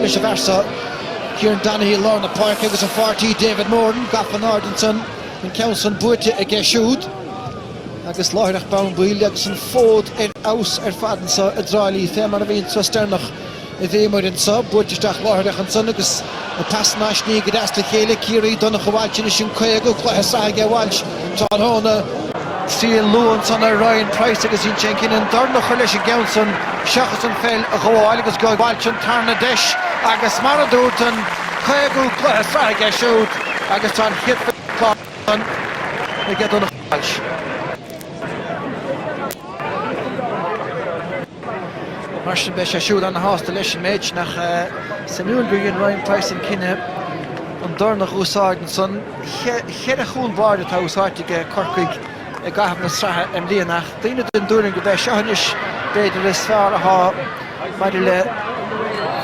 Vice versa, Kieran Donaghy i lár na páirce agus a pháirtí David Moran gafa in airde ansan, an ceann san buaite aige siúd agus láithreach bonn baill agus an fód ar fheabhas ar fad anso i dTrá Lí fé mar a bhí an Sraith Sternach i bhfémur anso, buaite isteach láithreach ansan agus na pasanna á sní go deas le chéile, Ciarraí, Donncha Walsh anois an 50ú cluiche sraithe aige, Walsh. Tráthnóna sí an Luan san ar Ryan Price agus dhein sé an cinneadh an dorn a chur leis an gceann san seachas an pheil a ghabháil agus aige Walsh an tarna deis agus mar a dúrt an caogú cluiche sraithe aige siúd agus tá an chéad fichead slán aige Donncha Walsh. Mar sin beidh sé siúd ana-shásta leis an méid. Nach suimiúil gur dhein Ryan Price an cinneadh an dorn a úsáid ansan. Cheithre chúl báire atá úsáidte aige Corcaigh i gcaitheamh na sraithe i mbliana ach daoine den dtuairim gurb é seo anois b'fhéidir is fearr athá maidir le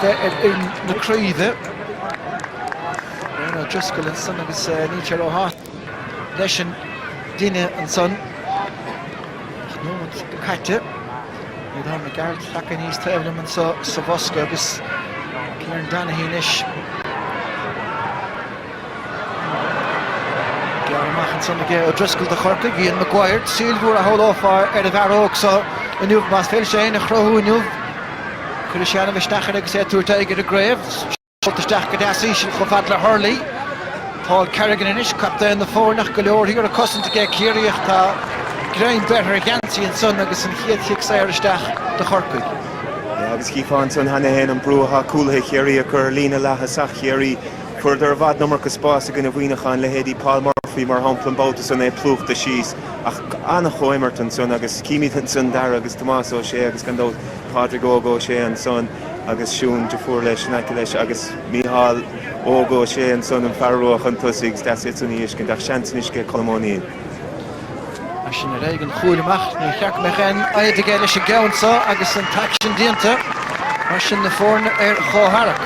bheith ar fhoireann na craoibhe. Brian O'Driscoll ansan agus níl sé ró-shásta. leis an gcinneadh ansan. Ocht nóimead caite. Aodán Mac Gearailt anois taobh liom anso sa bhosca agus Kieran Donaghy anois gearrtha amach ansan aige O'Driscoll do Chorcaigh, Ian Maguire, súil mhór a shamhlófá ar an bhfear óg so inniu, más féidir leis é fhéin a chruthú inniu. Cuirfidh sé ana-mhisneach air agus é ag tabhairt aghaidh ar an gcraobh. Seolta isteach go deas íseal chomh fad le Hurley. Paul Kerrigan anois captaen na foirne ach go leor thiar ag cosaint aige Ciarraí ach tá greim beirthe ar a gheansaí ansan agus an chéad chic saor isteach do Chorcaigh. Yeah agus chífeá ansan cheana féin an brú athá cúlaithe Chiarraí ag cur ar líne leath-thosach Chiarraí. Fuaireadar i bhfad an iomarca spás i gcoinne Mhuineacháin, leithéidí Paul Murphy mar shampla an babhta san, é plúchta síos ach an-chomhimirt ansan agus chímíd ansan Darragh agus Tomás Ó Sé agus gan dabht Pádraig Óg Ó Sé ansan. agus Siún deirfiúr leis in aice leis agus Mícheál Óg Ó Sé ansan an fear rua chun tosaigh agus deas iad san a fheiscint ach seans anois aige Colm O'Neill. As sin ar aghaidh an chúil amach níor cheart go mbeadh aon fhadhb aige leis an gceann seo agus an t-aicsean déanta mar sin na foirne ar chomhtharrac.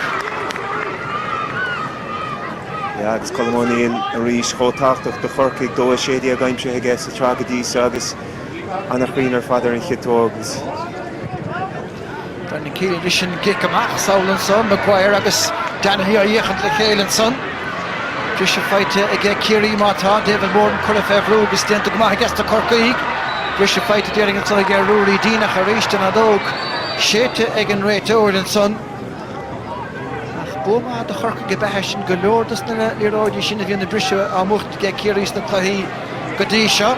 Yeah agus Colm O'Neill arís chomh tábhachtach do Chorcaigh, dó 16 aimsithe aige sa tsraith go dtí seo agus an-chruinn ar fad ar an chiotóg agus. Brendan Kealy leis an gcic amach is amhlaidh ansan, Maguire agus Donaghy á fhéachaint le chéile ansan. Briseadh faighte aige Ciarraí má tá, David Moran curtha fé bhrú agus déanta go maith aiges na Corcaígh. Briseadh faighte déarfainn ansan aige Ruairí Deane ach arís an fheadóg séidte ag an réiteoir ansan. Ach bua maith do Chorcaigh ab ea é sin, go leor dos na liathróidí sin a bhíonn ag briseadh á mbuachtaint aige Ciarraí sna cluichí go dtí seo.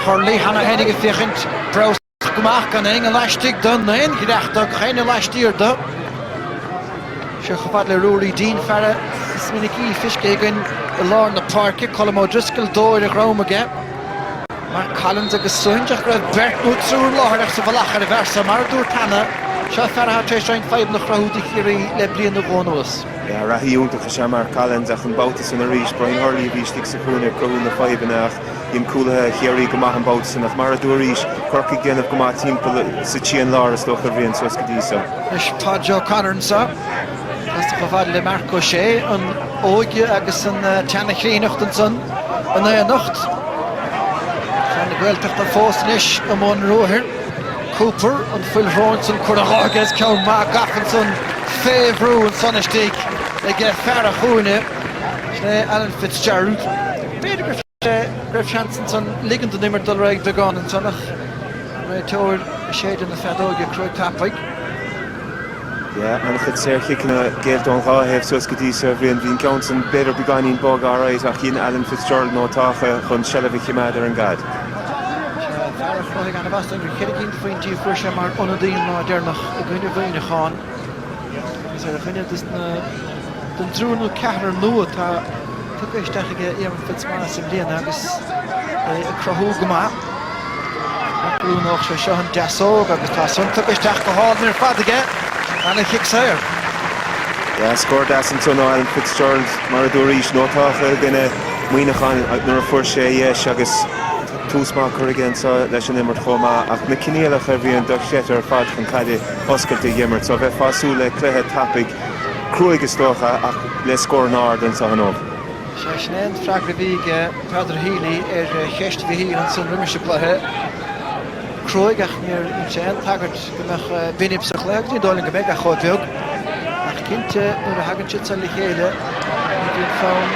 Hurley, cheana féinig ag féachaint, Browse. go maith gan éinne laistigh dó ná aon dhreach do chaineadh laistiar do. Seo chomh fad le Ruairí Deane fear is minic é feiscthe againn i lár na páirce, Colm O'Driscoll dó ar a dhrom aige. Mark Collins agus St ach go raibh beirt nó triúr láithreach sa mhullach air ambasa mar a dúirt cheana, seo fear atá tar éis roinnt fadhbanna a chruthú do Chiarraí le bliain nó dhó anuas. Reathaí iontach is ea Mark Collins ach an babhta san arís, Brian Hurley a bhí istigh sa chúinne ag cruthú na fadhbanna ach, Dhein cúlaithe Chiarraí go maith an babhta san ach mar a dúraís Corcaigh déanamh go maith timpeall sa trian láir is dócha a Bhriain suas go dtí so. Anois tá Joe O'Connor anseo. Casta chomh fada le Marc Ó Sé. An óige agus an tseana chríonnacht ansan in aonacht. Fear na Gaeltachta fós anois i mbun ruathair. Cooper, an fhuil shróin san curtha dhe aige is ceann maith gafa ansan fé bhrú ansan istigh aige fear an chúinne. Sin é Alan Fitzgerald. B'fhéidir go raibh seans ansan ligean don imirt dul ar aghaidh beagán ansan ach réiteoir ag séideadh na feadóige cruaidh tapaidh. Yeah, an-chuid saorchiceanna géillte ón dhá thaobh suas go dtí seo. Bhí an ceann san b'fhéidir beagáinín bog alright ach dhein Alan Fitzgerald iontach chun seilbh a chimeád ar an gcaid. Fear a chruthaigh ana-mhaith is dóigh liom bhí ceithre cinn de phointí a fuair sé mar ionadaí an lá deireanach i gcoinne Mhuineacháin. Is ar dhuine dos na den dtriúr nó ceathrar nua atá tugtha isteach ag Éamonn Fitzmaurice i mbliana agus é ag cruthú go maith. D'oiriúnódh sé seo an deasóg agus tá san tugtha isteach go hálainn ar fad aige lena chic saor. Dhá scór deas ansan ó Alan Fitzgerald, mar a dúraís, iontach i gcoinne Mhuineacháin nuair a fuair sé a dheis agus tá tús maith curtha aige anseo leis an imirt chomh maith ach na coinníollacha a Bhriain dochreidte ar fad chun caide oscailte a dh'imirt so bheifeá ag súil le cluiche tapaidh cruaidh is dócha, ach le scóranna arda anseo inniu. Sea sin é an freagra a bhí ag Peadar Healy ar cheist Mhichíl ansin roimis an gcluiche. Cruaidh ach níor dhein sé aon tagairt go mbeadh binib sa chluiche agus ní dóigh liom go mbeidh ach chomh beag. Ach cinnte nuair a thagann siad seo le chéile ní bhíonn fonn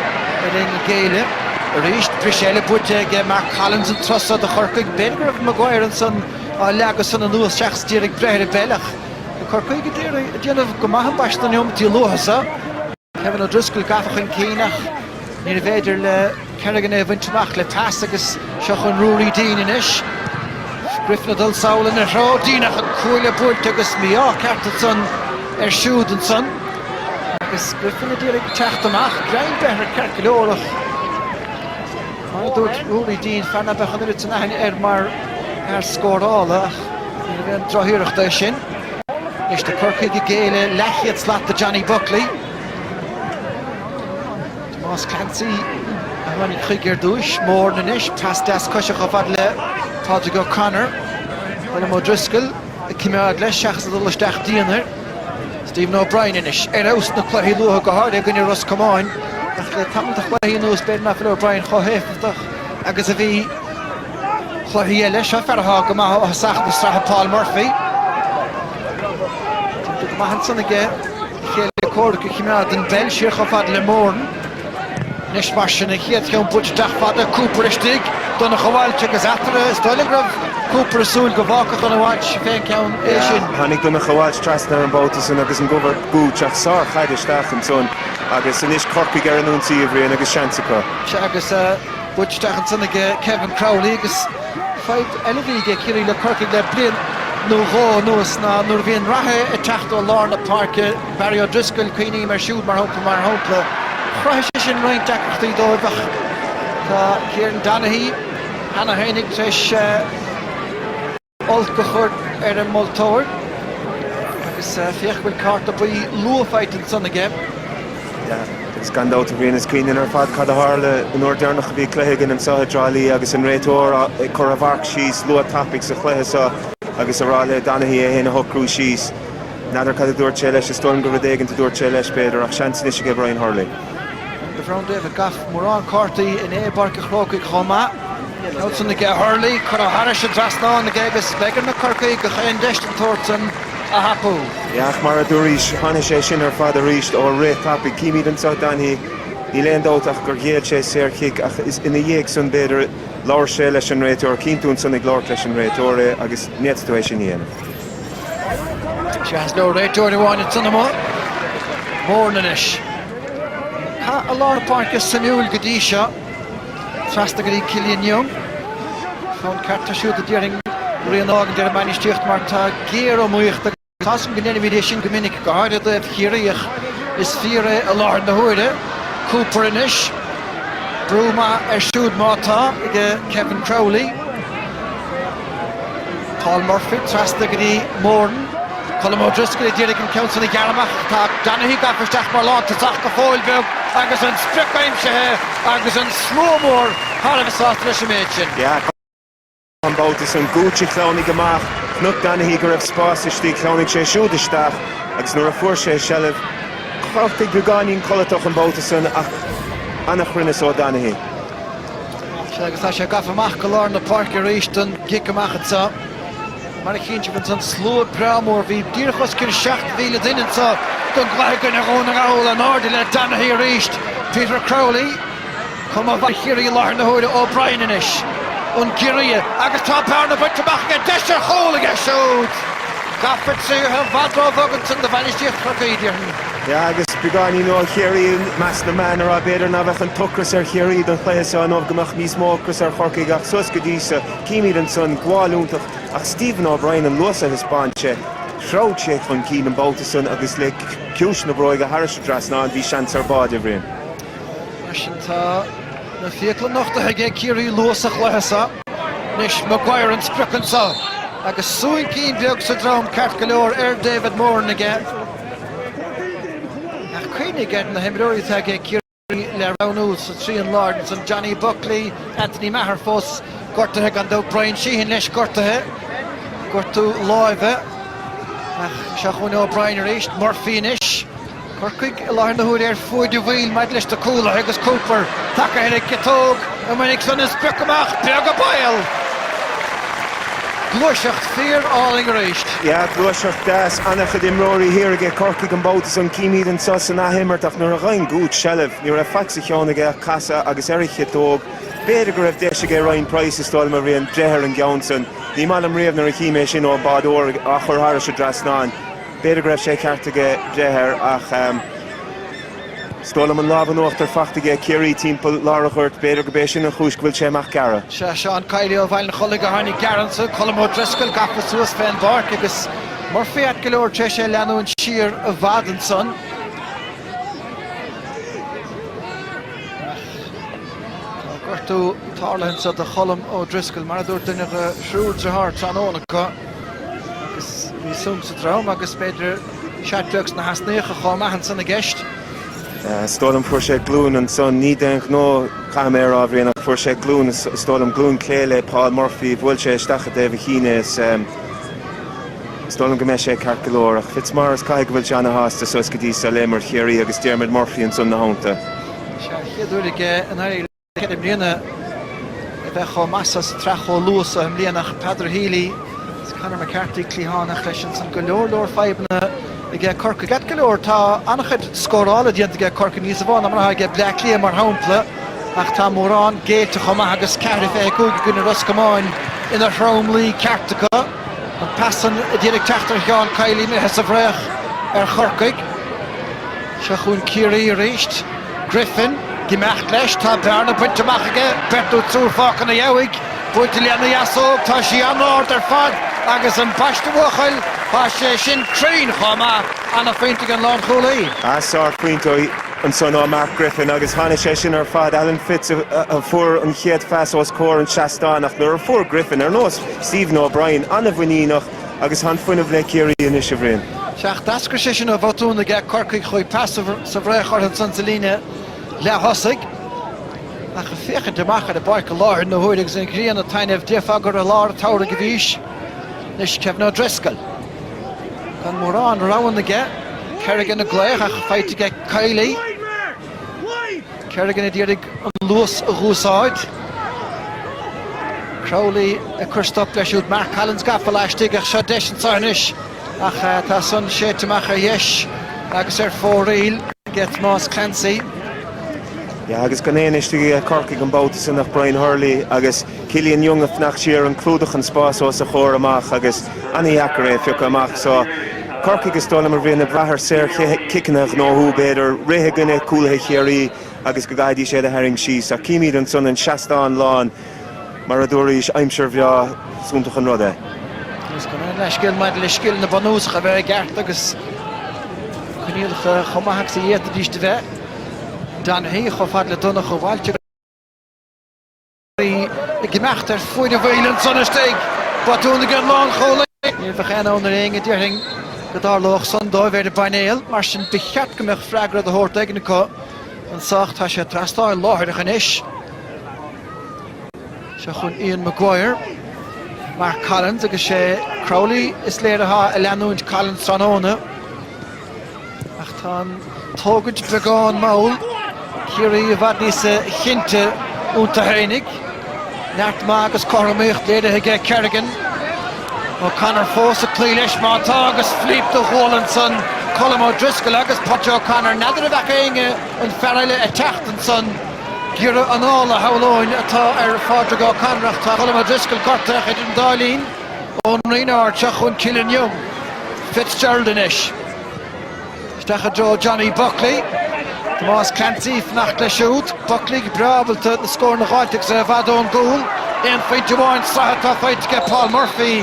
ar éinne géilleadh. Arís bris eile buaite ag Mark Collins an turas seo do Chorcaigh. B'fhéidir go raibh Maguire ansan á leagadh san anuas seachas díreach breith ar an bpeil ach. Corcaigh ag déanamh go maith ambaiste sna neomataí luatha so. Kevin O'Driscoll gafa chun cinn ach níorbh fhéidir le Kerrigan é a bhaint amach le pas agus seo chun Ruairí Deane anois. Griffin ag dul sall ina threo, Deane ach an cuaille buailte agus mí-ádh ceart ansan air siúd ansan. Agus Griffin a d'iarraidh teacht amach, greim beirthe air ceart go leor ach. Mar a dúirt Ruairí Deane, fear ná beadh an oiread san aithne air mar fhear scórála, ach níorbh aon droch-iarracht é sin. Anois tá Corcaigh ag géilleadh leathchéad slat do Johnny Buckley. Tomás Clancy a tháinig chuige ar dtúis. Moran anois, pas deas coise chomh fada le Pádraig O'Connor. Colm O'Driscoll ag coimeád leis seachas a dhul isteach dian air. Stephen O'Brien anois ar fheabhas sna cluichí luatha, go háirithe i gcoinne Ros Comáin, ach le tamall de chluichí anuas b'fhéidir nach bhfuil O'Brien chomh héifeachtach agus a bhí. Cluichí eile, Seo fear atá go maith ó thosach na sraithe, Paul Murphy. Timpeall go maith ansan aige, a chéile comhraic a chimeád ón bpeil siar chomh fada le Moran. Anois mar sin an chéad cheann buailte isteach fada, Cooper istigh, Donncha Walsh agus eatarthu is dóigh liom go raibh Cooper ag súil go bhfágfadh Donncha Walsh fé an ceann é sin. Tháinig Donncha Walsh trasna air an babhta san agus i gcomhair Gooch ach sár chaid isteach ansan agus anois Corcaigh ar an ionsaí, a Bhriain agus seans acu. Sea agus buailte isteach ansan ag Kevin Crowley agus fadhb eile a bhí ag Ciarraí le Corcaigh le bliain nó dhó anuas ná nuair a bhíonn reathaí ag teacht ó lár na páirce, Barry O'Driscoll, cuimhním air siúd mar shampla, mar shampla. Chruthaigh sé sin roinnt deacrachtaí dóibh ach tá Kieran Donaghy cheana féinig tar éis olc a chur ar an moltóir agus féach go bhfuil cárta buí luath faighte ansan aige. Yeah, agus gan dabht a Bhriain is cuimhin linn ar fad cad a tharla an uair deireanach a bhí cluiche againn anseo i dTrá Lí agus an réiteoir ag cur a mharc síos luath tapaidh sa chluiche seo agus a rá le Donaghy é fhéin a shocrú síos. N'fheadar cad a dúirt sé leis, is dóigh liom gur rud éigin a dúirt sé leis, b'fhéidir, ach seans anois aige Brian Hurley. Bhronn David Gough mórán cártaí inné i bPáirc an Chrócaigh chomh maith. Ansan aige Hurley, curtha thairis an dtrasnán aige agus bheidh ar na Corcaígh aon deis den tsórt san a thapú. Ach mar a dúraís, tháinig sé sin ar fad arís ó rith tapaidh. Címid anseo Donaghy, níl aon dabht ach gur ghéill sé saor chic, ach is ina dhiaidh san, b'fhéidir, labhair sé leis an réiteoir. Cíonn tú ansan ag labhairt leis an réiteoir é agus n'fhéadfadh tú é sin a dhéanamh. Tá sé is leor réiteoir amháin ag Tunnamore. Moran leis. Cath i lár na páirce suimiúil go dtí seo. Trasna go dtí Killian Young. Fonn ceart air siúd a déarfainn a rian a fhágaint ar an mbainistíocht mar tá géariomaíocht agus tá's go ndeirimid é sin go minic, go háirithe i dtaobh Chiarraí ach is fíor é i láthair na huaire. Cooper anois. Brú maith air siúd má tá, ag Kevin Crowley. Paul Murphy trasna go dtí Moran. Colm O'Driscoll ag iarraidh an ceann san a ghearradh amach ach tá Donaghy gafa isteach mar lántosach go fóill beag agus an sprioc aimsithe agus an slua mór thar a bheith sásta leis an méid sin. An babhta san Gooch a shleamhnaigh amach, chonaic Donaghy go raibh spás istigh, shleamhnaigh sé siúd isteach agus nuair a fuair sé seilbh, Corcaigh beagáinín codlatach an babhta san ach an-chruinneas ó Donaghy. Sea, agus tá sé gafa amach go lár na páirce arís don gcic amach anseo. Mar a chíonn sibh ansan slua breá mór, bhí díreach os cionn 7,000 duine anseo don gcluiche i gcoinne Dhún na nGall, in airde le Donaghy arís, Peter Crowley, chomh maith Ciarraí i láthair na huaire, O'Brien anois, an giorria, agus tá bearna bainte amach aige, deis ar chúl aige siúd! Gafa tríothu i bhfad ró-bhog ansan do bhainistíocht Chorcaí, déarfainn. Yeah agus beagáinín ó Chiarraí is meáin na meán a rá, b'fhéidir ná bheadh an t-ocras ar Chiarraí don chluiche seo, nó go mbeadh níos mó ocras ar Chorcaigh ach suas go dtí seo, címid ansan, gabháil iontach ach Stephen O'Brien an luas a thaispeáin sé, threabh sé chun cinn an babhta san agus le ciumhais na bróige thairis an dtrasnán, bhí seans ar bháide, a Bhriain. Mar sin tá na fiacla nochtaithe ag Ciarraí luath sa chluiche seo. Anois Maguire an sprioc ansan agus soncín beag sa droim, ceart go leor ar David Moran aige. Ach cuimhnigh ar na himreoirí atá ag Ciarraí le roghnú sa trian láir san, Johnny Buckley, Anthony Maher fós gortaithe gan dabht, Bryan Sheehan leis gortaithe, gortú láimhe. Ach seo chugainn Ó Broin arís, Murphy anois. Corcaigh i láthair na huaire ar fuaid an bhaill maidir leis na cúlaithe agus Cooper tagtha ar an gciotóg. Go minic chun an sprioc amach, beag a baol! Gluaiseacht fíor álainn arís. Yeah, gluaiseacht deas. An-chuid imreoirí thiar aige Corcaigh an babhta san. Címid anseo san athimirt ach nuair a dhein Gooch seilbh, ní raibh faic sa cheann aige ach casadh agus ar an chiotóg. B'fhéidir go raibh deis aige Ryan Price a stoil mar bhain deifir ar an gceann san. Ní maith liom riamh nuair a chím é sin ón báideoir á chur thairis an dtrasnán. B'fhéidir go raibh sé ceart aige breith air ach. Is dóigh liom an lámh in uachtar fachta aige Ciarraí timpeall lár an ghoirt. B'fhéidir gurb é sin an chúis go bhfuil sé amach gearra. Sea, Seán Kiely ó Bhaile an Chollaigh a tháinig gearr anso, Colm Ó Drisceoil gafa suas fén bpáirc agus Murphy ait go leor tar éis é leanúint siar i bhfad ansan. Ach tá gortú tarlaithe anso do Cholm Ó Drisceoil, mar a dúirt duine de thriúr driotháir tráthnóna acu, agus bhí sonc sa droim agus b'fhéidir, Cic beag sna heasnaíocha chomh maith ansan i gceist. Is dóigh liom, fuair sé glúin ansan, ní d'aon ghnó caithfidh mé a rá, a Bhrian, ach fuair sé glúin is dóigh liom, glúin clé le Paul Murphy, bhuail sé isteach i dtaobh a chinn é is dóigh liom go mbeidh sé ceart go leor. Ach Fitzmaurice caithfidh go bhfuil sé ana-shásta suas go dtí so le imirt Chiarraí agus Diarmuid Murphy ansan ina theannta. Bhí sé an chéad uair aige in. Ceithre bliana a bheith chomh maith so sa tsraith chomh luath so i mbliana ach Peadar Healy agus Conor McCarthy cliathánach leis an san go leor leor fadhbanna aige Corcaigh. Ait go leor tá an-chuid scórála déanta aige Corcaigh níos mó ná mar atá aige Bleá Cliath mar shampla ach tá mórán géillte chomh maith agus ceathair fiche cúig i gcoinne Ros Comáin ina thromluí ceart acu. An phas san i ndiaidh ag teacht ar Sheán Kiely imithe sa bhfraoch ar Chorcaigh. Seo chugainn Ciarraí arís. Griffin, ag imeacht leis. Tá bearna bainte amach aige, beirt nó triúr fágtha ina dhiaidh. Buailte lena dheasóg, tá sí an-ard ar fad agus ambaiste a bhuachaill, tá sé sin cruinn chomh maith, an-phointe ag an lánchúlaí. Sárphointe ansan ó Mark Griffin agus tháinig sé sin ar fad. Alan Fitz a fuair an chéad phas os comhair an seastáin ach nuair a fuair Griffin, ar nós Stephen O'Brien, an-mhuiníneach, Agus tá an fuinneamh le Ciarraí anois, a Bhriain. Sea, d'eascair sé sin ó bhotún aige Corcaigh chuaigh pas sa bhfraoch orthu ansan sa líne leath-thosaigh. Ach ag féachaint amach ar an bpáirc i láthair na huaire agus an ghrian ag taitneamh, déarfá gur i lár an tsamhraidh a bhís. Anois, Kevin O'Driscoll. Gan mórán roghanna aige, Kerrigan ag glaoch ach faighte aige ag Kiely. Kerrigan ag iarraidh an luas a dh'úsáid. Crowley ag cur stop leis siúd. Mark Collins gafa laistigh ach seo deis anso anois ach tá san séidte amach ar dheis agus ar fóraoil ag Tomás Clancy. Yeah, agus gan éinne istigh ag Corcaigh an babhta san ach Brian Hurley agus. Killian Young ag fanacht siar, ag clúdach an spás os a chomhair amach agus ana-dheacair é a phiocadh amach. Só Corcaigh is dóigh liom a Bhriain ag brath ar saorchiceanna a ghnóthú, b'fhéidir rith i gcoinne cúlaithe Chiarraí agus go gcaithfidís iad a tharraingt síos. Ach címid ansan an seastán lán mar a dúraís, aimsir bhreá, is iontach an rud é. Is gan aon leithscéal maidir le scileanna bunúsacha a bheith i gceart agus coinníollacha chomh maith agus a d'fhéadfaidís a bheith. Donaghy chomh fada le Donncha Walsh. Ag imeacht ar fuinneamh gaoithe ansan dtig botún ag an lánchúlaí. Ní bheadh aon ionadh ar éinne a déarfainn go dtarlódh san dóibh ar an bpainéal, mar sin ba cheart go mbeadh freagra do thabhairt do dhuine acu anso ach tá sé trasnáil láithreach anois. Seo chun Ian Maguire, Mark Collins agus is é Crowley is léir atá ag leanúint Collins tráthnóna. Ach tá an tógaint beagán mall. Ciarraí i bhfad níosa chinnte iontu fhéinig. Neart maith agus cothromaíocht léirithe aige Kerrigan. O'Connor fós ag cloí leis má tá agus flíp do dh'uillinn ansan. Colm O'Driscoll agus Paidí O'Connor. N'fheadar an bhfeaca éinne an fear eile ag teacht ansan. Giorra anála shamhlóinn atá ar Phádraig O'Connor ach tá Colm O'Driscoll gortaithe idir an dá linn. Ón Rinn Airteach chun Killian Young, Fitzgerald anois. Isteach i dtreo Johnny Buckley. Tomás Clancy ag fanacht leis siúd. Buckley go breá ábalta na scóranna a dh'fháilt agus é i bhfad ón gcúl. Aon phointe amháin sraithe atá faighte aige Paul Murphy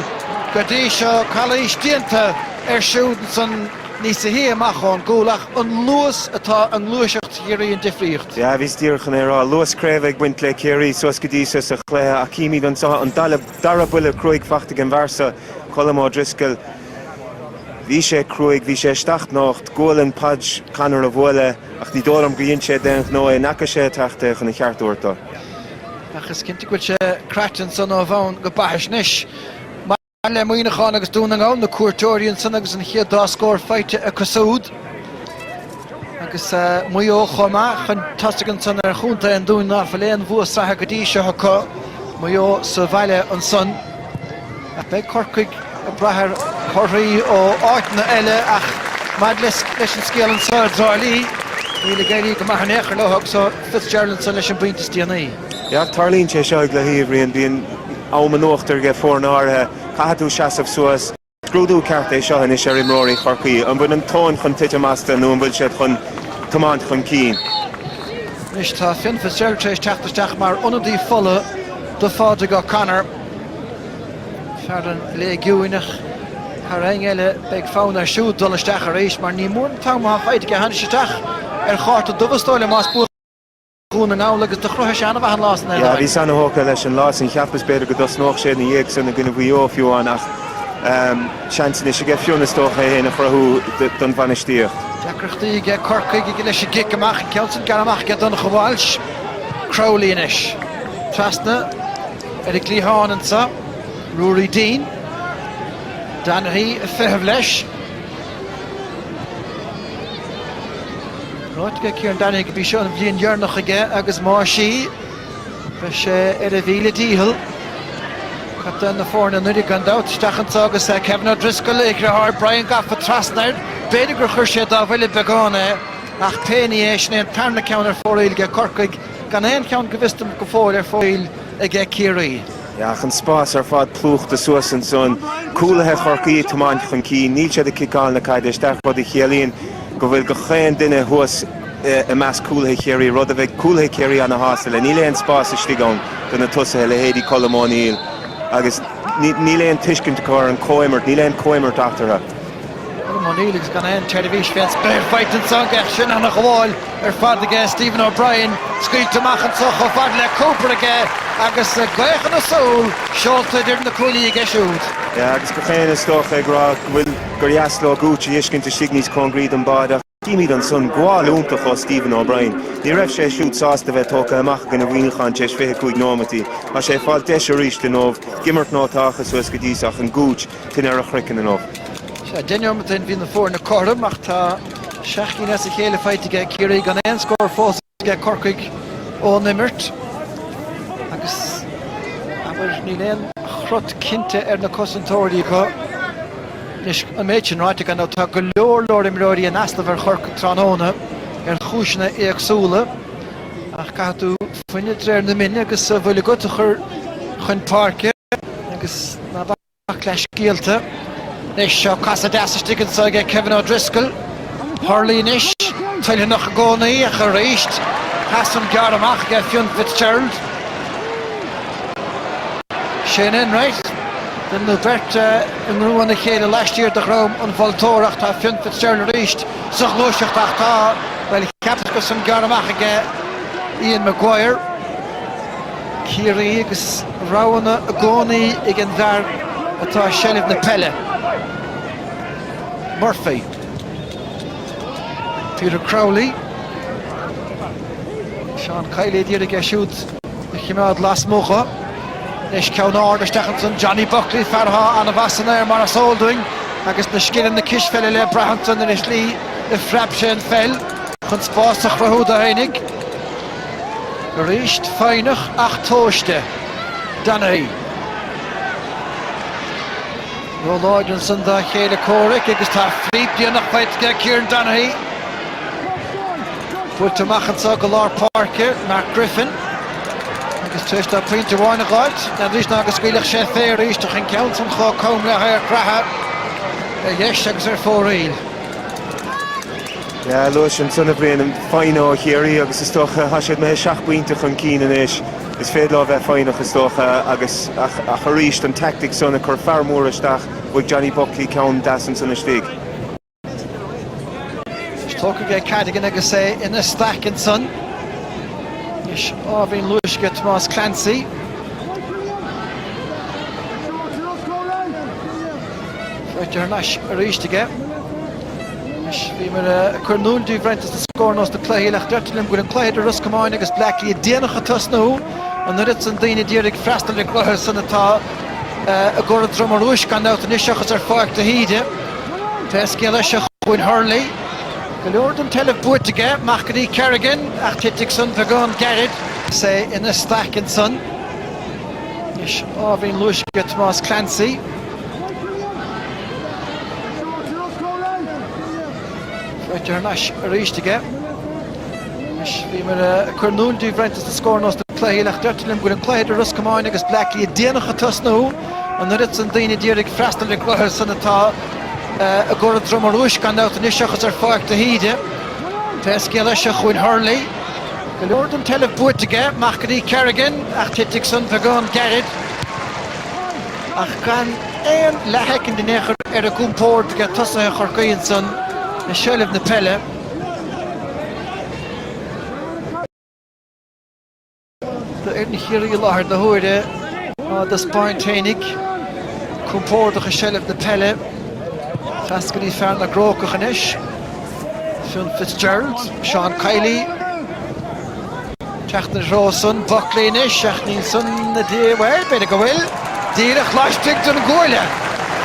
go dtí seo. Calaois déanta air siúd ansan níosa shia amach ón gcúl ach an luas atá i ngluaiseacht Chiarraí an difríocht. Yeah, bhíos díreach chun é a rá. Luas craobh ag baint le Ciarraí suas go dtí seo sa chluiche ach címid anso an dalladh. Dara buille cruaigh fachta ag an bhfear seo, Colm Ó Drisceoil. Bhí sé cruaigh, bhí sé isteach nocht, gualainn Podge Connor a bhuail é, ach ní dóigh liom gur dhein sé d'aon ghnó é, n'fheaca sé ag teacht é chun a cheart thabhairt do. Ach is cinnte go bhfuil sé craite ansan ó bhonn go baithis anois. Maidir le Muineachán agus Dún na nGall, na cuairteoirí ansan agus an chéad dá scór faighte acu súd, Agus Maigh Eo chomh maith chun tosaigh ansan ar chontae an Dúin ná fuil aon bhua sraithe go dtí seo acu, Maigh Eo sa bhaile ansan. Ach beidh Corcaigh ag brath ar thorthaí ó áiteanna eile, ach maidir leis an scéal anso i dTrá Lí, níl ag éirí go maith in aon chor leo agus ó Fitzgerald ansan leis an bpointe is déanaí. Yeah, tarlaíonn sé seo i gcluichí, a Bhriain, bíonn am in uachtar aige foirne áirithe, caithfidh tú seasamh suas, Scrúdú ceart é seo anois ar imreoirí Chorcaí. An bhfuil an tóin chun titim astu nó an bhfuil siad chun tiomáint chun cinn? Anois tá Fionn Fitzgerald tar éis teacht isteach mar ionadaí fola do Phádraig O'Connor. Fear an Léigiúin, ach thar aon ní eile beidh fonn air siúd dul isteach arís mar ní mór an t-am atá faighte aige tháinig sé isteach ar chárta dubh is dóigh liom más buan. Dhún na nGall agus do chruthaigh sé an-mhaith an lá san. Bhíos an-thógtha leis an lá san, cheapas b'fhéidir go dtosnódh sé ina dhiaidh san i gcoinne Mhaigh Eo fiú amháin ach seans anois aige Fionn is dócha é fhéin a chruthú don bhainistíocht. Deacrachtaí aige Corcaigh leis an gcic amach, an ceann sin gearrtha amach aige Donnchadh Walsh. Crowley anois. Trasna ar an gcliathán anseo Ruairí Deane. Donaghy ag feitheamh leis. Ráite aige Kieran Donaghy gurb í seo an bhliain dheireanach aige agus más í, beidh sé ar a mhíle dícheall. Captaen na foirne anuraidh gan dabht, isteach anseo agus Kevin O'Driscoll, a dhritheár Brian gafa trasna air, b'fhéidir gur chuir sé dá bhuille beagán é, ach pé ní é, sin é an tarna ceann ar fóraoil aige Corcaigh, gan aon cheann go bhfios dom go fóill ar fóraoil aige Ciarraí. Ach an spás ar fad plúchta suas ansan. Cúlaithe Chorcaí ag tiomáint chun cinn, níl siad ag ciceáil na caide isteach, rud a chiallaíonn go bhfuil gach aon duine thuas i measc cúlaithe Chiarraí, rud a bheidh cúlaithe Ciarraí ana shásta le. Níl aon spás istigh ann do na tosaithe, leithéidí Colm O'Neill, agus níl aon tuiscint acu ar an comhimirt, níl aon comhimirt eatarthu. Colm O'Neill agus gan aon tseirbhís fén spéir faighte anseo aige ó shin. Ana-ghabháil ar fad aige Stephen O'Brien scaoilte amach anseo chomh fada le Cooper aige agus gaoth ina súil, seolta idir na cuaillí aige siúd. Yeah agus gach éinne is dócha ag rá go bhfuil gur dheas leo Gooch a fheiscint istigh níos cóngaraí don mbáide ach címid ansan gabháil iontach ó Stephen O'Brien. Ní raibh sé siúd sásta bheith tógtha amach i gcoinne Mhuineacháin tar éis 25 nóimeataí. Tá sé ag fáil deis arís inniu ag imirt nó táchas suas go dtí seo ach an Gooch Tine ar a chraiceann inniu. Sea, deich neomat ó shin bhí na foirne cothrom ach tá seacht gcinn as a chéile faighte aige Ciarraí gan aon scór fós aige Corcaigh ón imirt agus, abair, níl aon chrot cinnte ar na cosantóirí acu. Anois, an méid sin ráite, gan dabht, tá go leor leor imreoirí in easnamh ar Chorcaigh tráthnóna ar chúiseanna éagsúla ach caithfidh tú fuineadh de réir na mine agus a bhfuil agat a chur chun páirce agus ná bac leithscéalta. Anois seo casadh deas istigh anseo aige Kevin O'Driscoll. Hurley anois, toilteanach i gcónaí ach arís pas san gearrtha amach aige Fionn Fitzgerald. Shane Enright, den na bheirt i ngreim a chéile laistiar de dhroim an mholtóra ach tá Fionn Fitzgerald arís sa ghluaiseacht ach tá, bhuel, an pas san gearrtha amach aige, Ian Maguire, Ciarraí agus roghanna i gcónaí ag an bhfear atá i seilbh na peile, Murphy. Peter Crowley, Seán Kiely ag iarraidh é siúd a chimeád lasmuigh leis, ceann ard isteach ansan, Johnny Buckley, fear atá an-mheas air mar is eol dúinn agus na scileanna cispheile le brath ansan insa tslí a phreab sé an pheil. Chun spás a chruthú dó féinig arís, foighneach ach tomhaiste, Donaghy. Róláidir ansan dá chéile comhraic agus tá flíp déanach faighte ag Kieran Donaghy. Buailte amach anseo go lár páirce, Mark Griffin. Agus tar éis dó pointe amháin a dh'fháilt, n'fheadar leis ná go scaoilfeadh sé fé arís ach an ceann san chomh cam le hadharc reatha, ar dheis agus ar fóraoil. Luais ansan, a Bhriain, foighne ó Chiarraí agus is dócha tá siad imithe seacht bpointe chun cinn anois. Is féidir leo bheith foighneach is dócha agus ach arís an tactic san ag cur fear mór isteach, bhuaigh Johnny Buckley ceann deas ansan istigh. Anois tógtha aige Cadogan agus é ina staic ansan. Anois ábhairín luais aige Tomás Clancy. Faighte thar n-ais arís aige. Anois bhíomar ag cur in iúl díbh roinnt as na scóranna ós na cluichí eile deirtear liom go bhfuil an cluiche idir Ros Comáin agus Bleá Cliath déanach ag tosnú an oiread san daoine d'iarraidh freastal ar an gcluiche san atá i gCora Droma Rúisc gan dabht anois seachas ar Pháirc de hÍde. Pé scéal é seo chugainn Hurley. Go leor den tseilbh buaite aige, amach go dtí Kerrigan ach titfidh san beagán gairid. Is é ina staic ansan. Anois ábhairín luais aige Tomás Clancy. Sáite thar n-ais arís aige. Anois bhíomar ag cur in iúl daoibh roinnt de scóranna ós na cluichí eile ach deirtear liom go bhfuil an cluiche idir Ros Comáin agus Bleá Cliath déanach ag tosnú. An oiread san daoine a d'iarraidh freastal ar an gcluiche san atá i gCora Droma Rúisc gan dabht anois seachas ar Pháirc de hÍde. Pé scéal é seo chugainn Hurley. Go leor den tseilbh buaite aige, amach go dtí Kerrigan, ach titfidh san beagán gairid. ach gan aon leathshoicind in aon chor ar a gcompórd aige tosaithe Chorcaí ansan i seilbh na peile. Tá foireann Chiarraí i láthair na huaire, á dtaispeáint fhéinig, compórdach i seilbh na peile. Trasna go dtí fear na gCrócach anois, Fionn Fitzgerald, Seán Kiely. Teacht ina dtreo san, Buckley anois, ach níl san na dé, bhuel, b'fhéidir go bhfuil. Díreach laistigh den gcuaille.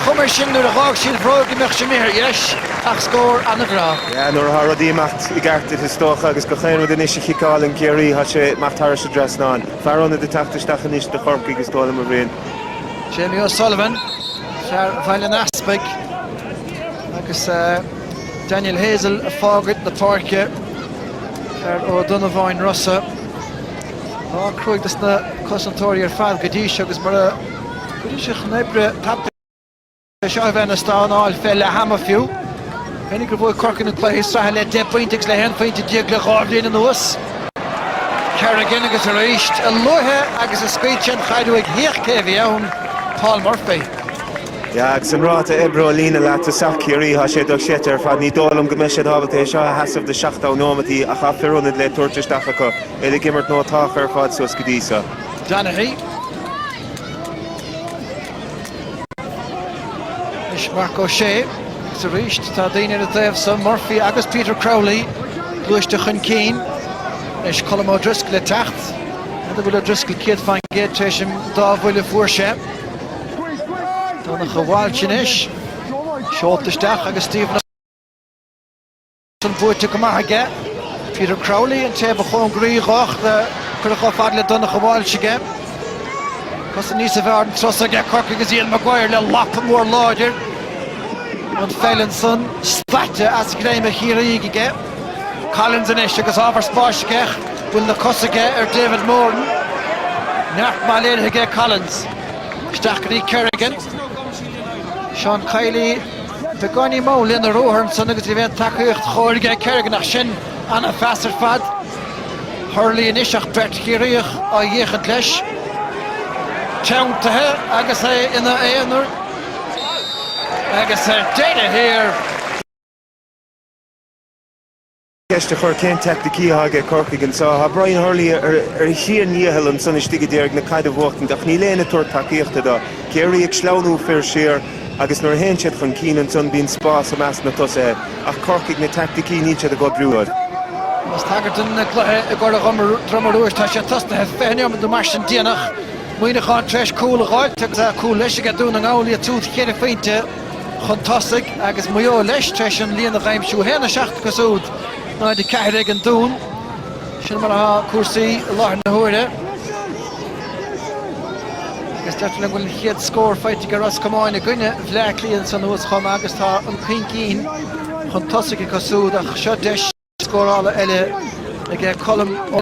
Cuma air sin nuair a dh'fhág sí a bhróg go mbeadh sé imithe ar dheis, ach scór an-bhreá. Yeah, nuair athá rudaí ag imeacht i gceart duit, is dócha, agus gach aon rud anois a chiceáileann Ciarraí, thá sé ag imeacht thairis an dtrasnán. Fear ionad ag teacht isteach anois do Chorcaigh, is dóigh liom, a Bhriain. Jamie O'Sullivan, fear Bhaile an Easpaig, agus Daniel Hazel ag fágaint na páirce. ar Ó Donnabháin Rossa. Lá cruaidh dos na cosantóirí ar fad go dtí seo agus mura gcuireann siad chun oibre tapaidh é seo a bheith ina stánáil fé leath ama fiú. Cuimhnigh gur bhuaigh Corcaigh na cluichí sraithe le deich bpointe agus le haon phointe déag le dhá bhliain anuas. Kerrigan agus arís, a luaithe agus a scaoil sé an chaid uaidh, féach cé a bhí ann, Paul Murphy. Agus an ráta oibre ó líne leath-thosach Chiarraí, tá sé dochreidte ar fad. Ní dóigh liom go mbeidh siad ábalta é seo a sheasamh do sheachtó nóimeataí ach tá fir ionaid le tabhairt isteach acu, iad ag imirt iontach ar fad suas go dtí seo. Donaghy. Anois Marc Ó Sé agus arís tá daoine ar a dtaobh san, Murphy agus Peter Crowley gluaiste chun cinn. Anois Colm O'Driscoll ag teacht. An bhfuil O'Driscoll 100 fán gcéad tar éis an dá bhuille a fuair sé? Donncha Walsh anois. Seolta isteach agus Stephen ansan buaite go maith aige. Peter Crowley, an té a ba chóngaraí dho, ach cuireadh chomh fada le Donncha Walsh aige. Cosaint níos fearr an turas so aige Corcaigh agus Ian Maguire le lapa mór láidir. An pheil ansan, staite as greim an Chiarraígh aige. Collins anois agus ábhar spáis aige, bhfuil na cosa aige ar David Moran. Neart maith léirithe aige Collins. Isteach go dtí Kerrigan, Seán Kiely, beagáinín mall lena ruathar ansan agus ní bheidh an tacaíocht chóir aige Kerrigan ach sin ana phas ar fad. Hurley anois ach beirt Chiarraíoch á fhéachaint leis. Teanntaithe agus é ina aonar. Agus ar deireadh thiar. ceist a chur cén teaicticí atá aige Corcaigh anso. Tá Brian Hurley ar a sheana-dhícheall ansan istigh a d'iarraidh na caid a bhuachtaint ach níl éinne ag tabhairt tacaíochta dó. Ciarraí ag sleamhnú fir siar agus nuair a théann siad chun cinn ansan bíonn spás i measc na tosaithe ach Corcaigh na teaicticí níl siad ag oibriú dóibh. Más tagairt don cluiche i gCora Droma Rúisc tá sé tosnaithe fiche neomad nó mar sin déanach. Muíneachán tar éis cúl a dh'fháilt agus cúl leis aige Dún na nGall iad siúd cheithre phointe. chun tosaigh agus Maigh Eo leis tar éis an líon a dh'aimsiú, 1-7 acu súd 0-4 ag an Dún. Sin mar atá cúrsaí i láthair na huaire agus deirtear liom go bhfuil an chéad scór faighte ag Ros Comáin i gcoinne Bhleá Cliath ansan thuas chomh maith agus tá an cuingcín chun tosaigh acu súd ach seo deis scórála eile aige Colm Ó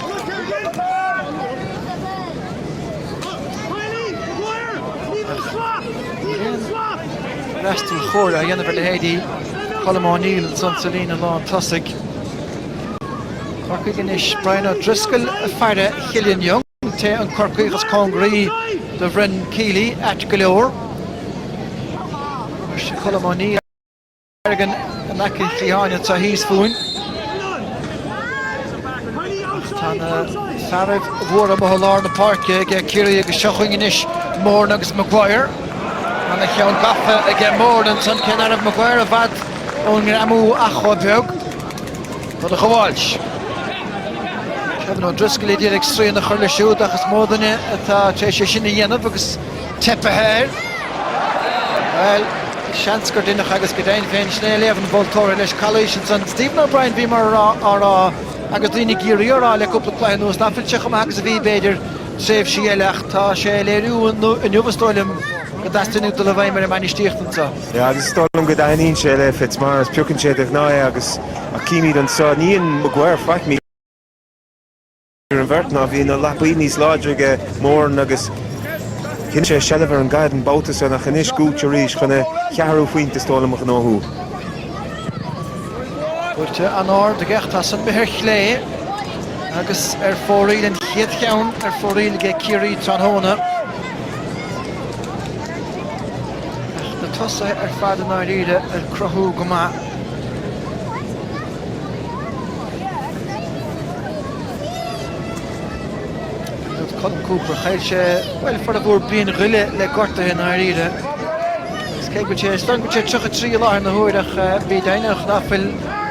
Freastal chóir á dhéanamh ar leithéidí Colm O'Neill ansan sa líne lán tosaigh. Corcaigh anois, Brian O'Driscoll ag faire, Killian Young, sé an Corcaíoch is cóngaraí do Bhrian Kiely, ait go leor. Anois Colm O'Neill. Bergin in aice an chliatháin anseo thíos fúinn. Tá na fearaibh mhóra amuigh i lár na páirce ag Ciarraí agus seo chugainn anois Moran agus Maguire. Ana-cheann gafa aige Moran ansan cé ná raibh Maguire i bhfad ón ngreamú ach chomh beag. Rud a ghabháilt. Kevin O'Driscoll a d'iarraidh srian a chur leis siúd ach is mó duine atá tar éis é sin a dhéanamh agus teipthe air. Bhuel, seans gur deineadh agus go deimhin féin sin é léamh an mholtóra leis. Calaois ansan. Stephen O'Brien, bhíomar á rá, agus daoine ag iarraidh a rá le cúpla cluiche anuas, ná fuil sé chomh maith agus a bhí, b'fhéidir, tréimhsí eile ach tá sé á léiriú inniu, is dóigh liom, go dteastaíonn uaidh dul i bhfeidhm ar an mbainistíocht anso. Yeah, agus is dóigh liom go dtaitníonn sé le Fitzmaurice, piocann sé de ghnáth é agus, ach chímid anso, ní dhein Maguire faic. idir an bheirt ná bhí na lapaí níos láidre aige Moran agus choinnigh sé seilbh ar an gcaid an babhta san ach anois Gooch arís chun a cheathrú phointe is dóigh liom a ghnóthú. Buailte an-ard aige ach tá san imithe ar chlé agus ar fóraoil an chéad cheann ar fóraoil aige Ciarraí tráthnóna. Ach na tosaithe ar fad i ndáiríre ag cruthú go maith. Dúirt Colm Cooper, Chaill sé, bhuel, formhór bliain go leith le gortuithe i ndáiríre agus cé go bhfuil sé ar stang, bhfuil sé 33 i láthair na huaire ach bí deimhnitheach ná fuil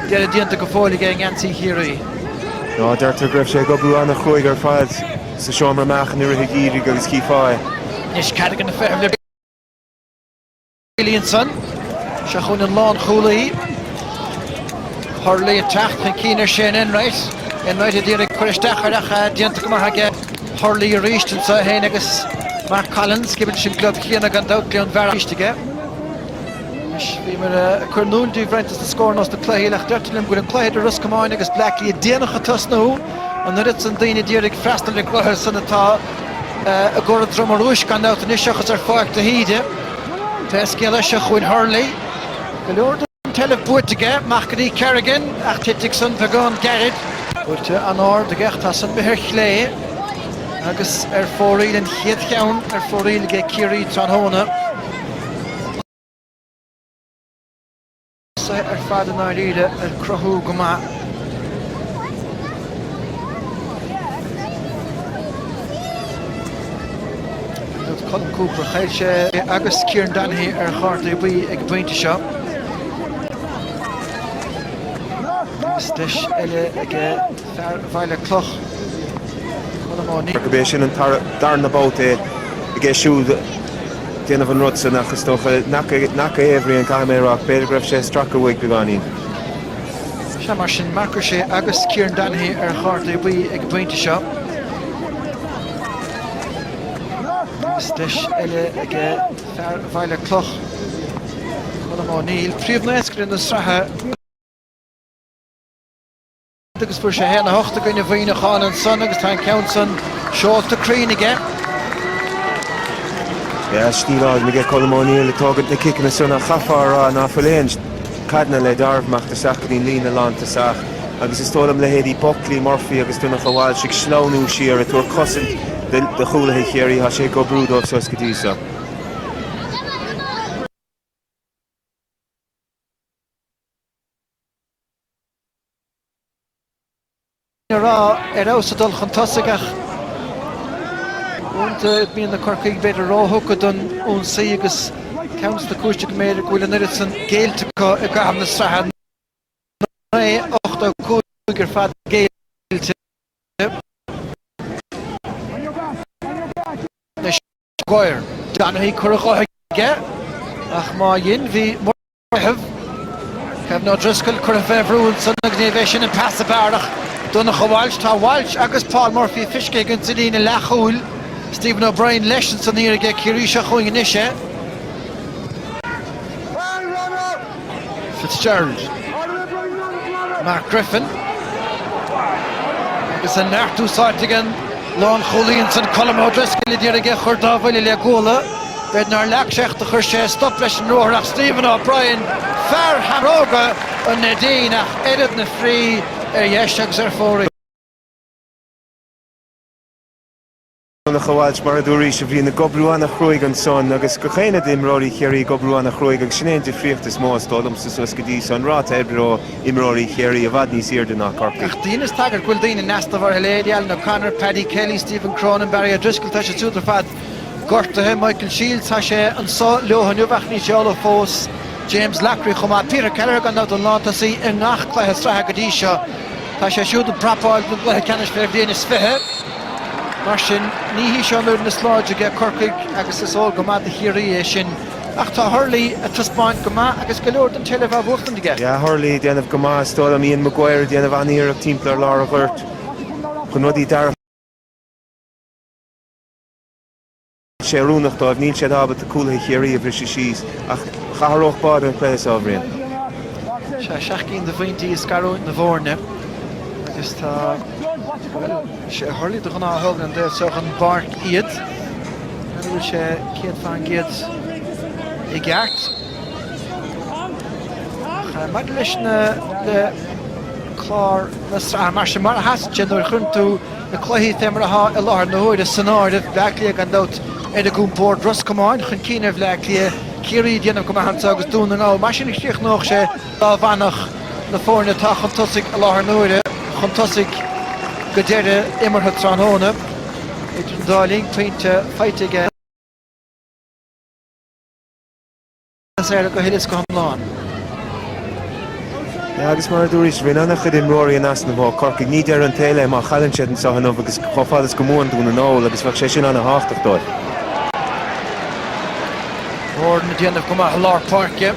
deireadh déanta go fóill aige i ngeansaí Chiarraí. Ná deirtear go raibh sé ag oibriú an-chruaidh ar fad sa seomra meáchan i rith an gheimhridh agus chífeá é. Anois, cad a dhéanfaidh na feithimh le. Williamson, seo chugainn an lánchúlaí. Hurley ag teacht chun cinn ar Shane Enright. Enright a d'iarraidh cur isteach air ach déanta go maith aige. Hurley arís anseo é féin agus Mark Collins. ag imirt leis an club chéanna gan dabht, Gleann Bearcháin arís aige. Anois bhíomar ag cur in iúl daoibh roinnt de na scóranna ós na cluichí ach deirtear liom go bhfuil an cluiche idir Ros Comáin agus Bleá Cliath déanach ag tosnú. An oiread san daoine ag iarraidh freastal ar an gcluiche san atá i gCora Droma Rúisc gan dabht anois seachas ar Pháirc de hÍde. Pé scéal é, seo chugainn Hurley. Go leor den tseilbh buaite aige, amach go dtí Kerrigan, ach thit an cic san beagán gairid. Buailte an-ard aige ach tá san imithe ar chlé agus ar fóraoil, an chéad cheann ar fóraoil aige Ciarraí tráthnóna. siad ar fad i ndáiríre ag cruthú go maith. Dúirt Colm Cooper, Chaill sé é agus Kieran Donaghy ar chártaí buí ag an bpointe seo. Agus deis eile aige. Fear Bhaile Cloch Colm Ó. Gurb é sin an darna babhta aige siúd ag déanamh an rud san ach is dócha nach é, a Bhriain, caithfidh mé a rá. B'fhéidir go raibh sé ag stracadh uaidh beagáinín. Sea, mar sin, Marc Ó Sé agus Kieran Donaghy ar chártaí buí ag an bpointe seo. Agus deis eile ag fear Bhaile Cloch, Colm Ó Neill, príomhnaoscaire na sraithe. agus fuair sé 1, 8 i gcoinne Mhuineacháin ansan agus tá an ceann san seolta cruinn aige. B'fhearr stíl álainn aige Colm O'Neill ag tógaint na ciceanna san ach chaithfeá a rá ná fuil aon chaideanna le dealramh ag dul isteach go dtí an líne lántosach agus is dóigh liom leithéidí Buckley, Murphy agus Donncha Walsh ag sleamhnú siar ag tabhairt cosaint do chúlaithe Chiarraí, tá sé ag oibriú dóibh fós go dtí seo. a raibh ar fheabhas ag dul chun tosaigh ach uaireanta bíonn na Corcaígh b'fhéidir róthugtha don ionsaí agus ceann de na cúiseanna go mb'fhéidir go bhfuil an oiread san géillte acu i gcaitheamh na sraithe ná é, 85 ar fad géillte. Anois Maguire. Donaghy, cur a dhóthain aige ach má dhein, bhí. Meitheamh. Kevin O'Driscoll curtha fé bhrú ansan, níorbh é sin an pas ab fhearr ach Donncha Walsh Tá Walsh agus Paul Murphy feiscithe againn sa líne leathchúil, Stephen O'Brien leis ansan thiar aige Ciarraí seo chugainn anois é. Fitzgerald, Mark Griffin agus an neart úsáidte ag an. Lán chúlaí ansan Colm O'Driscoll a d'iarraidh é a chur dá bhuille le guala. B'fhéidir nár leac secht a chuir sé stop leis an ruathar ach Stephen O'Brien, fear Sheamróga an Neidín ach oiread na fríde ar dheis agus ar fóraoil. Donncha Walsh mar a dúraís a Bhriain ag oibriú ana chruaidh ansan agus gach éinne d'imreoirí Chiarraí ag oibriú ana chruaidh agus sin é an difríocht is mó is dóigh liomsa suas go dtí seo an ráta oibre ó imreoirí Chiarraí i bhfad níos airde ná Corcaigh. Dheineas tagairt go bhfuil daoine in easnamh ortha leithéidí Alan O'Connor, Paddy Kelly, Stephen Cronin, Barry O'Driscoll, tá siad siúd ar fad gortaithe, Michael Shields tá sé anso leo inniu ach níl sé ullamh fós, James Loughrey chomh maith, Peter Kelleher gan dabht an lántosaí i ngach cluiche sraithe go dtí seo tá sé siúd ag prapáil don gcluiche ceannais fé bhliain is fiche mar sin ní hí seo an fhoireann is láidre aige Corcaigh agus is eol go maith do Chiarraí é sin. Ach tá Hurley ag taispeáint go maith agus go leor den tseilbh á bhuachtaint aige, Bhí Hurley ag déanamh go maith, is dóigh liom, Ian Maguire ag déanamh an-iarracht timpeall ar lár an ghoirt chun rudaí a sé oiriúnach dóibh, níl siad ábalta cúlaithe Chiarraí a bhriseadh síos ach d'athródh báire an cluiche seo, a Bhriain. Sea, seacht gcinn de phointí ag scarúint na bhfoirne agus tá, bhuel, sé Hurley de ghnáth a thógann ón dtaobh seo den bpáirc iad. An bhfuil sé 100% i gceart? Maidir leis an, le clár na sraithe, mar sin, mar a sheasann siad nuair a chuireann tú na cluichí fé mar atá i láthair na huaire san áireamh, Bleá Cliath gan dabht ar a gcompord, Ros Comáin chun cinn ar Bhleá Cliath, Ciarraí ag déanamh go maith anseo agus Dún na nGall. Mar sin a chríochnódh sé. Dá bhfanfadh na foirne atá chun tosaigh i láthair na huaire chun tosaigh go deireadh imeartha tráthnóna, idir an dá linn pointe faighte aige as éaradh go huile is go hiomlán. Agus mar a dúraís, bhí ana chuid imreoirí in easnamh ó Chorcaigh. Ní deireadh an tsaoil é má chailleann siad anseo inniu agus chomh fada is go mbuann Dún na nGall agus bheadh sé sin ana thábhachtach dóibh. Foireann ag déanamh go maith i lár páirce.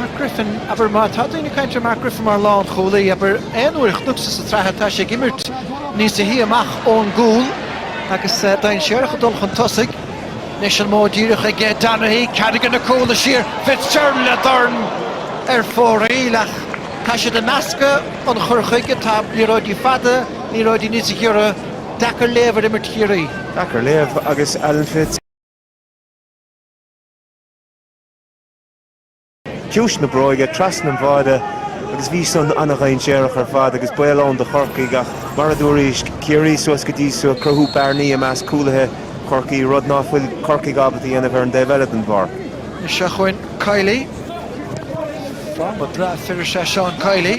Mark Griffin, abair, má tá daoine ag caint ar Mark Griffin mar lánchúlaí, abair, aon uair a chonacsa sa tsraith, tá sé ag imirt níosa shia amach ón gcúl agus dainséarach ag dul chun tosaigh. Anois an modh díreach ag Donaghy, Cadogan ag cúladh siar, Fitzgerald le dorn ar fóraoil ach tá siad ag meascadh an chur chuige, tá liathróidí fada, liathróidí níosa ghiorra, deacair léamh ar imirt Chiarraí. Deacair léamh agus Alan Fitz. ciumhais na bróige, trasna an bháire agus bhí san ana-dhainséarach ar fad agus baol ann do Chorcaigh ach, mar a dúraís, Ciarraí suas go dtí so ag cruthú bearnaí i measc cúlaithe Chorcaí, rud ná fuil Corcaigh ábalta dhéanamh ar an dtaobh eile den bpáirc. Is seo chugainn Kiely. Fráma breá fir is ea Seán Kiely.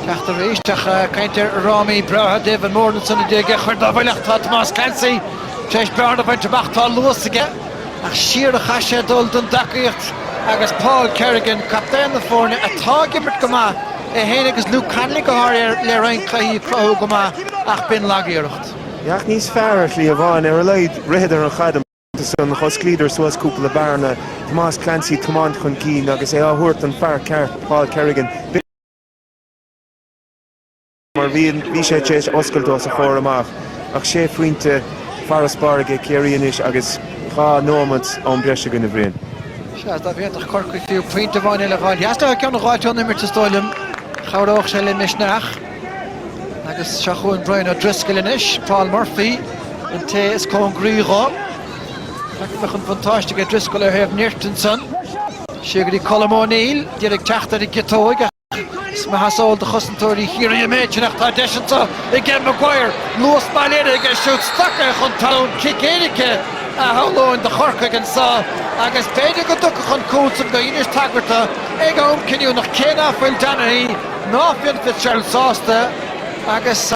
Teacht arís ag caint ar fhrámaí breátha David Moran san 19 Chuir dá bhuille ach tá Tomás Clancy tar éis bearna a bhaint amach, tá luas aige. Ach siar a chaith sé dul don dtacaíocht agus Paul Kerrigan, captaen na foirne, atá ag imirt go maith, é féin agus Luke Connolly go háirithe le roinnt cluichí ag cruthú go maith ach b'in lag-iarracht. Bhí ach níos fearr ar shlí amháin. Ar a laghad ritheadar an chaid amach ansan, d'osclaíodar suas cúpla bearna, Tomás Clancy ag tiomáint chun cinn agus é á thabhairt don fear ceart, Paul Kerrigan. mar bhí bhí sé tar éis oscailt os a chomhair amach ach sé phointe farasbarr aige Ciarraí anois agus dhá nóiméad am breise againn, a Bhriain. Sea, dá bhféadfadh Corcaigh fiú pointe amháin eile a fháil, sheas leo ceann a dh'fháilt ón imirt is dóigh liom, chabhródh sé le misneach. Agus seo chugainn Brian O'Driscoll anois, Paul Murphy an té is cóngaraí dho. Feicfidh mé chun buntáiste aige Driscoll ó thaobh nirt ansan. Siar go dtí Colm O'Neill, d'iarraidh teacht ar an gciotóig ach. Is maith is eol do chosantóirí Chiarraí an méid sin ach tá deis anso aige Maguire. Luas soiléir aige, siúd stractha chun talún, cic éirice a shamhlóinn do Chorcaigh anso agus b'fhéidir go dtiocfadh an cúl san gur dheinis tagairt dó ag am cinniúnach cé ná fuil Donaghy ná Fionn Fitzgerald sásta agus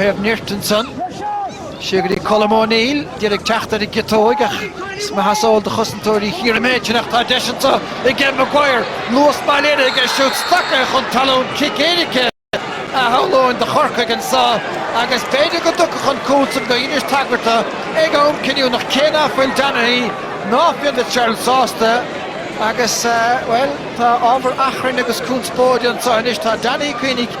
thaobh nirt ansan. Siar go dtí Colm O'Neill, d'iarraidh teacht ar an gciotóig, ach is maith is eol do chosantóirí Chiarraí an méid sin ach tá deis anso aige Maguire, luas baile air aige siúd, stractha chun talún, cic éirice a shamhlóinn do Chorcaigh anso agus b'fhéidir go dtiocfadh an cúl san gur dheinis tagairt dó ag am cinniúnach cé ná fuil Donaghy ná Fionn Fitzgerald sásta agus, bhuel, tá ábhar achrainn agus conspóide anso anois. Tá Donaghy ag caoineadh.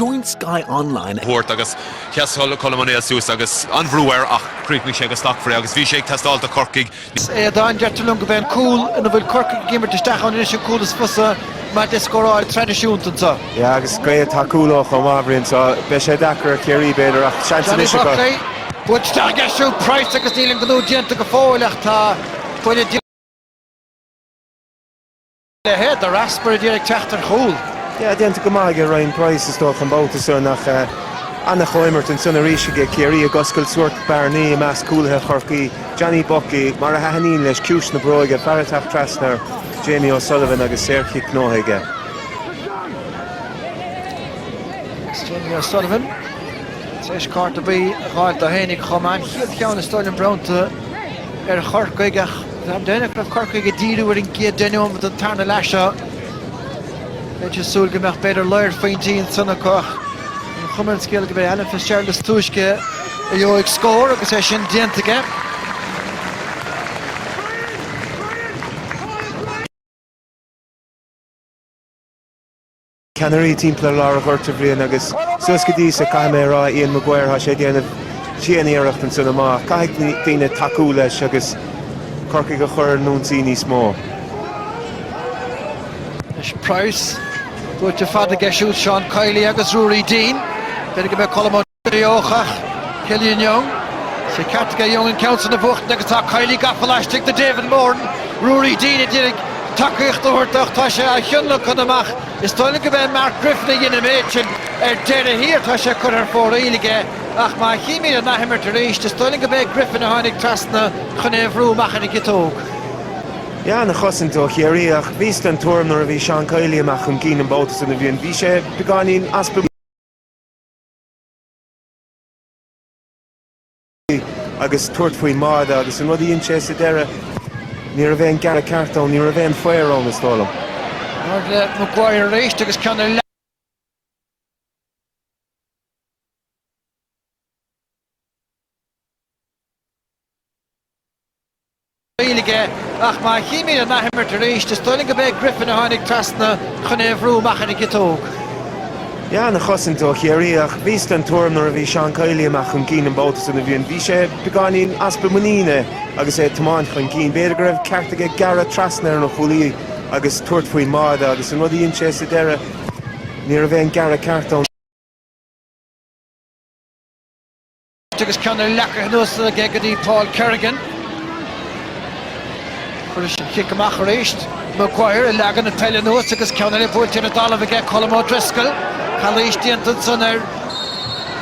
Join Sky Online. thabhairt agus sheas Colm Ó Néill suas agus an-bhrú air ach chríochnaigh sé go slachtmhar é agus bhí sé ag teastáil do Chorcaigh ní. eadhon. Deirtear liom go bheidh an cúl ina bhfuil Corcaigh ag imirt isteach ann anois an cúl is fusa maidir le scóráil traidisiúnta anseo. Yeah agus gaoth atá cúlóg chomh maith a Bhriain so beidh sé deacair ar Chiarraí b'fhéidir ach seans Johnny anois a Buckley, bheadh. buaite isteach ag eisiamh Price agus níl an gnó déanta go fóill ach tá buille. Ahead, The Rasp ar a dtír ag teacht ar chúl. Yeah, déanta go maith aige Ryan Price is dócha an babhta san ach an-chomhimirt ansan arís aige Ciarraí ag oscailt sórt bearnaí i measc cúlaithe Chorcaí, Johnny Buckley mar a thaitníonn leis, ciumhais na bróige, fear ag teacht trasna ar Jamie O'Sullivan agus saor-chic gnóthaithe aige. Agus Jamie O'Sullivan tar éis cárta buí a dh'fháilt dó féinig chomh maith, an chéad cheann is dóigh liom bronnta. ar Chorcaigh ach déarfainn go raibh Corcaigh ag díriú ar an gcéad deich nóiméad den tarna leath seo. Bheinn ag súil go mbeadh b'fhéidir lair phointí ansan acu ach an chuma ar an scéal go b'é Alan Fitzgerald is túisce a gheobhaidh scór agus é sin déanta aige. ceannairí timpeall lár an ghoirt, a Bhriain, agus suas go dtí, caithfidh mé a rá, Ian Maguire, tá sé ag déanamh dian-iarracht ansan ach caithfidh daoine tacú leis agus Corcaigh a chur in ionsaí níos mó. Anois Price, buailte fada aige siúd Seán Kiely agus Ruairí Deane. D'fhéadfadh go mbeadh Colm Ó. acu ach, Killian Young, sé ceart aige Young an ceann san a bhuachtaint agus tá Kiely gafa laistigh de David Moran, Ruairí Deane d'iarraidh tacaíocht a thabhairt dó ach tá sé á thionlacan amach is dóigh liom go b'é Mark Griffin a dhein an méid sin ar deireadh thiar tá sé curtha ar fóraoil aige ach má chímíd an athimirt arís is dóigh liom go b'é Griffin a tháinig trasna chun é bhrú amach ar an gciotóg. Yeah, an-chosaint ó Chiarraí ach bhíos den tuairim nuair a bhí Seán Kiely amach chun cinn an babhta san a Bhriain bhí sé beagáinín as agus tabhairt faoin mbáide agus an rud a dhein sé sa deireadh ní raibh aon gearradh ceart ann, ní raibh aon faobhar ann is dóigh liom. Ard le Maguire arís agus ceann eile. aige, ach má chímid an athimirt arís, is dóigh liom go b'é Griffin a tháinig trasna chun é a bhrú amach ar an gciotóg. Yeah, an-chosaint ó Chiarraí, ach bhíos den tuairim nuair a bhí Seán Kiely amach chun cinn an babhta san a Bhriain, bhí sé beagáinín easpa muiníne agus é ag tiomáint chun cinn, b'fhéidir go raibh ceart aige gearradh trasna ar an chúlaí agus tabhairt faoin mbáide agus an rud a dhein sé sa deireadh, ní raibh aon gearradh ceart ann. Agus ceann eile acu cnuasaithe aige go dtí Paul Kerrigan. Chuir sin cic amach arís. Maguire ag leagan na peile anuas agus ceann eile buailte ar an dtalamh aige, Colm O'Driscoll. Calaois déanta ansan ar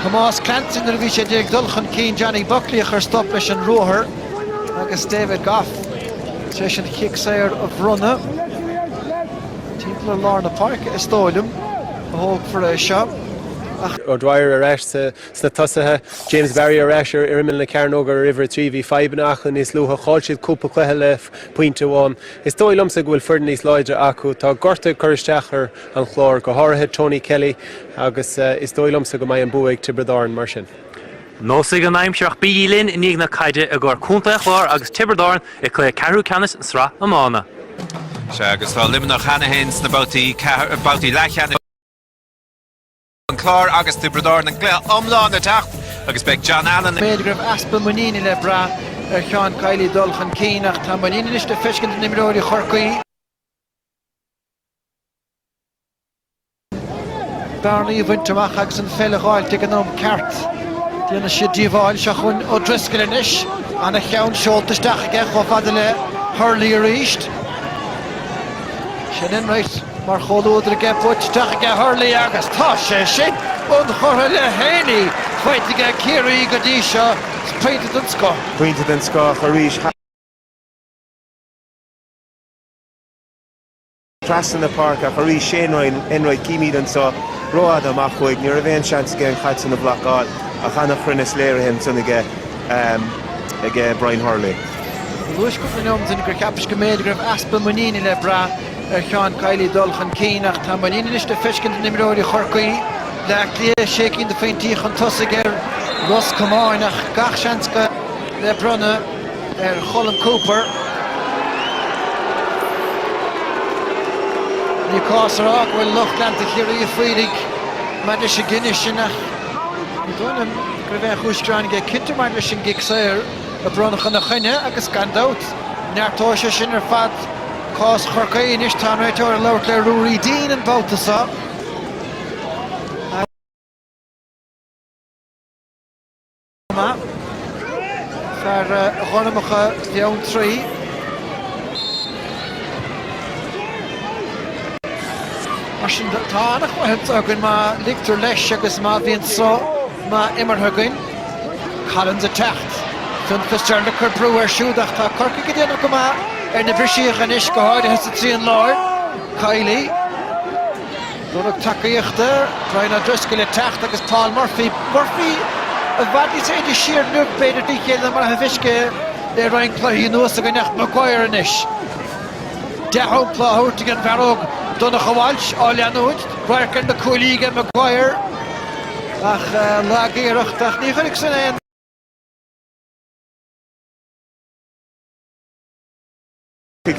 Thomás Clancy nuair a bhí sé ag iarraidh dul chun cinn Johnny Buckley a chuir stop leis an ruathar. Agus David Gough tar éis an cic saor a bhronnadh. Timpeall ar lár na páirce, is dóigh liom, a thógfar é seo. Ach. O'Dwyer ar ais sa Sna tosaithe, James Barry ar ais ar imeall na cearnóige ar uimhir a trí. Bhí fadhbanna acu níos luaithe, chaill siad cúpla cluiche le pointe amháin. Is dóigh liomsa go bhfuil foireann níos láidre acu. Tá gorta ag cur isteach ar an Chlár, go háirithe Tony Kelly, agus is dóigh liomsa go mbeidh an bua ag Tiobraid Árann mar sin. Neosfaidh an aimsir ach bígí linn i ndiaidh na caide i gcomhair Contae an Chláir agus Tiobraid Árann i gcluiche ceathrú ceannais Sraith Iomána. Sea, agus tá Luimneach cheana féin sna babhtaí leathcheannais. an Clár agus Tiobraid Árann an cluiche iomlán ag teacht agus beidh John Allen ag. B'fhéidir go raibh easpa muiníne le brath ar Seán Kiely dul chun cinn ach tá muinín anois le feiscint in imreoirí Chorcaí. bearnaí a bhaint amach agus an pheil a dh'fháil ag an am ceart. Déanann siad díobháil, seo chugainn O'Driscoll anois, ana-cheann seolta isteach aige chomh fada le Hurley arís. Shane Enright. Mar chomhluadar aige buailte isteach aige Hurley agus tá sé sin ionchurtha le haon chuid aige Ciarraí go dtí seo. Pointe den scoth. Pointe den scoth arís. Trasna na páirce ach arís Shane Enright címid anseo rófhada amach uaidh. Ní raibh aon seans aige an caid sin a bhlocáil ach an-chruinneas léirithe ansin aige Brian Hurley. Ba thúisce liom sin gur cheapas go mb'fhéidir go raibh easpa muiníne le brath. ar Seán Kiely dul chun cinn ach tá muinín anois le feiscint in imreoirí Chorcaí, Baile Átha Cliath sé cinn de phointí chun tosaigh ar Ros Comáin ach gach seans go le bronnadh ar Cholm Cooper. Ní cás a rá go bhfuil lucht leanta Chiarraí ag faírigh maidir leis an gcinneadh sin ach ní dóigh liom go raibh aon chúis ghearáin aige cinnte maidir leis an gcic saor a bronnadh ina choinne agus gan dabht, neartóidh sé sin ar fad. Cás Chorcaí anois, tá an réiteoir ag labhairt le Ruairí Deane an babhta seo. fear Ghormacha Bheanntraí. Mar sin tá an-chluiche againn má ligtear leis agus má bhíonn sruth maith imeartha againn. Collins ag teacht. Fionn Fitzgerald ag cur brú air siúd ach tá Corcaigh ag déanamh go maith ar na briseacha anois, go háirithe sa trian láir. Kiely, lorg tacaíochta, Brian O'Driscoll ag teacht agus Paul Murphy. Murphy i bhfad níos faide siar inniu, b'fhéidir, tríd is chéile ná mar atá feicthe le roinnt cluichí anuas againn ach Maguire anois. Dea-shampla á thabhairt ag an bhfear óg Donncha Walsh á leanúint. Radharc ar na cuaillí aige Maguire. Ach lag-iarracht, ach ní chuirfidh san aon ní.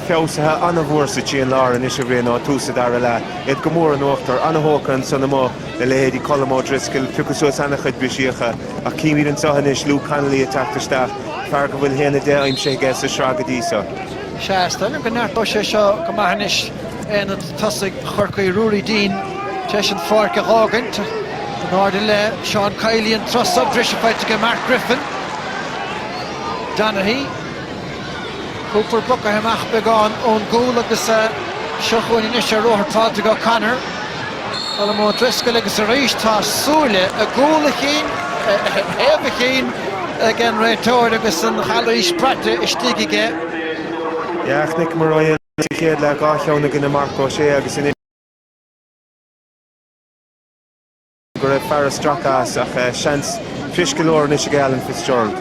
Feabhsaithe an-mhór atá siad an lár anois i rith nó ó thús an dara leath, iad go mór in uachtar, an-thógtha ansan amuigh le leithéidí Colm O'Driscoll, piocadh suas ana-chuid brisíocha, ach címid anso anois Luke Connolly ag teacht isteach, fear go bhfuil haon a deich aimsithe aige sa tsraith go dtí so. Is dócha go neartódh sé seo go maith anois aonad tosaigh Chorcaí Ruairí Deane tar éis an pháirc a dh'fhágaint. In airde le Seán Kiely an troimh sop, briseadh faighte aige Mark Griffin. Donaghy, Cooper bogtha amach beagán ón gcúl agus seo chugainn anois ar ruathar Brian O'Connor. Colm O'Driscoll agus arís tá súile i gcúl a chinn, ar thaobh a chinn, ag an réiteoir agus an chalaois braite istigh aige. Yeah, chonaic muid é sa chéad leath, dhá cheann i gcoinne, Marc Ó Sé agus anois. go raibh fear a stracadh síos, ach seans fuirist go leor anois aige Bryan Sheehan.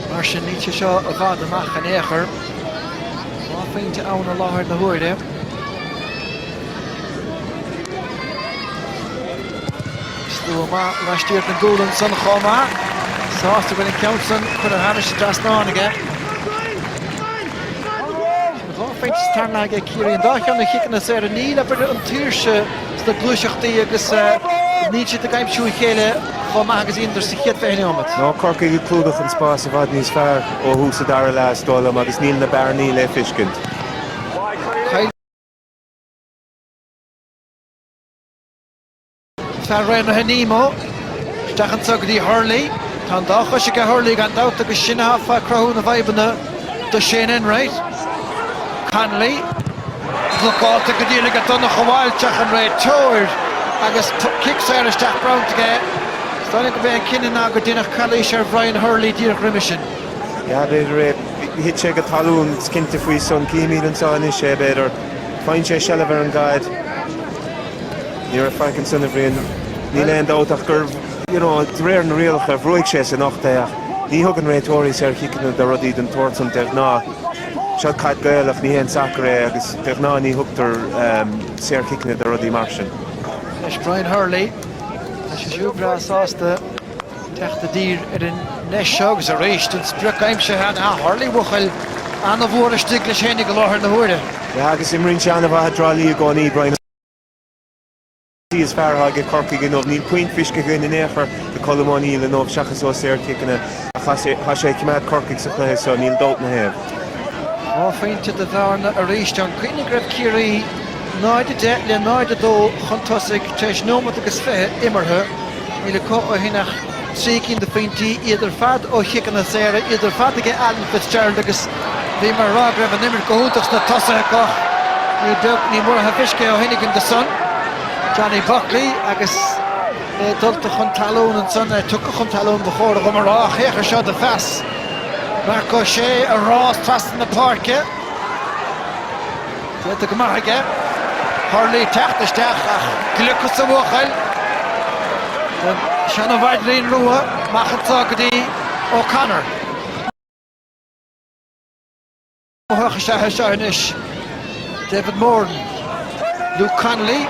Mar sin níl sé seo i bhfad amach in aon chor. Dhá phointe ann i láthair na huaire. Stuama laistiar den gcúl ansan chomh maith. Sásta go bhfuil an ceann san curtha thar an dtrasnán aige. Dhá phointe aimsithe aige ag Ciarraí, an dá cheann ó chiceanna saora. Níl an tsaoirse sna gluaiseachtaí agus níl siad ag aimsiú a chéile chomh maith agus a dheineadar sa chéad 20 nóiméad. Tá Corcaigh ag clúdach an spáis i bhfad níos fearr ó thús an dara leath, is dóigh liom, agus níl na bearnaí le feiscint. Fear Raonaithe Nemo. Isteach anseo go dtí Hurley. Tá an dá chois aige Hurley gan dabht agus sin atá ag cruthú na bhfadhbanna do Shane Enright. Connolly. Blocáilte go dian aige Donncha Walsh ach an réiteoir agus cic saor isteach bronnta aige. Is dóigh liom go b'é an cinneadh ná gur deineadh calaois ar Bhrian Hurley díreach roimhe sin. Yeah, b'fhéidir é. Thit sé go talún, is cinnte faoi san. Címid anseo anois é, b'fhéidir. Faigheann sé seilbh ar an gcaid. Ní raibh faic ansin, a Bhriain. Níl aon dabht ach gur, you know, de réir na rialacha, bhrúigh sé san ucht é ach ní thugann réiteoirí saorchiceanna do rudaí den tsórt san de ghnáth. Seo caid Ghaelach, ní haon sacar é agus de ghnáth ní thugtar saorchiceanna do rudaí mar sin. Leis Brian Hurley. Tá sé siúd breá sásta. teacht i dtír ar an ndeis seo agus arís an sprioc aimsithe ag Harley, buachaill an-mhór istigh leis féinig i láthair na huaire. Yeah agus imríonn sé an-mhaith i dTrá Lí i gcónaí, Brian is fearr atá aige Corcaigh inniu. Níl puinn feiscithe againn in aon chor do Colm Ó Neill inniu seachas ó saorchiceanna ach tá sé tá sé ag coimeád Corcaigh sa chluiche seo, níl dabht na thaobh. Dhá phointe de bhearna arís. An cuimhin go raibh Ciarraí 0, 10 le 0, 2 chun tosaigh tar éis nóimeat agus fiche imeartha. Níl acu ó shin ach trí cinn de phointí, iad ar fad ó chiceanna saora, iad ar fad ag Alan Fitzgerald agus bhíomar ag rá go raibh an imirt go hiontach sna tosaithe acu. Níl beag ní mhór an aisce ó shin againn do son Johnny Buckley agus é dulta chun talún ansan, é tugtha chun talún ba chóir dhom a rá, ach féach ar seo do phas. Marc Ó Sé ag rás trasna na páirce. Déanta go maith aige. Hurley ag teacht isteach ach gliocas an bhuachaill an seana mhaidrín rua amach anso go dtí O'Connor. Gnóthach is ea é seo anois. David Moran. Luke Connolly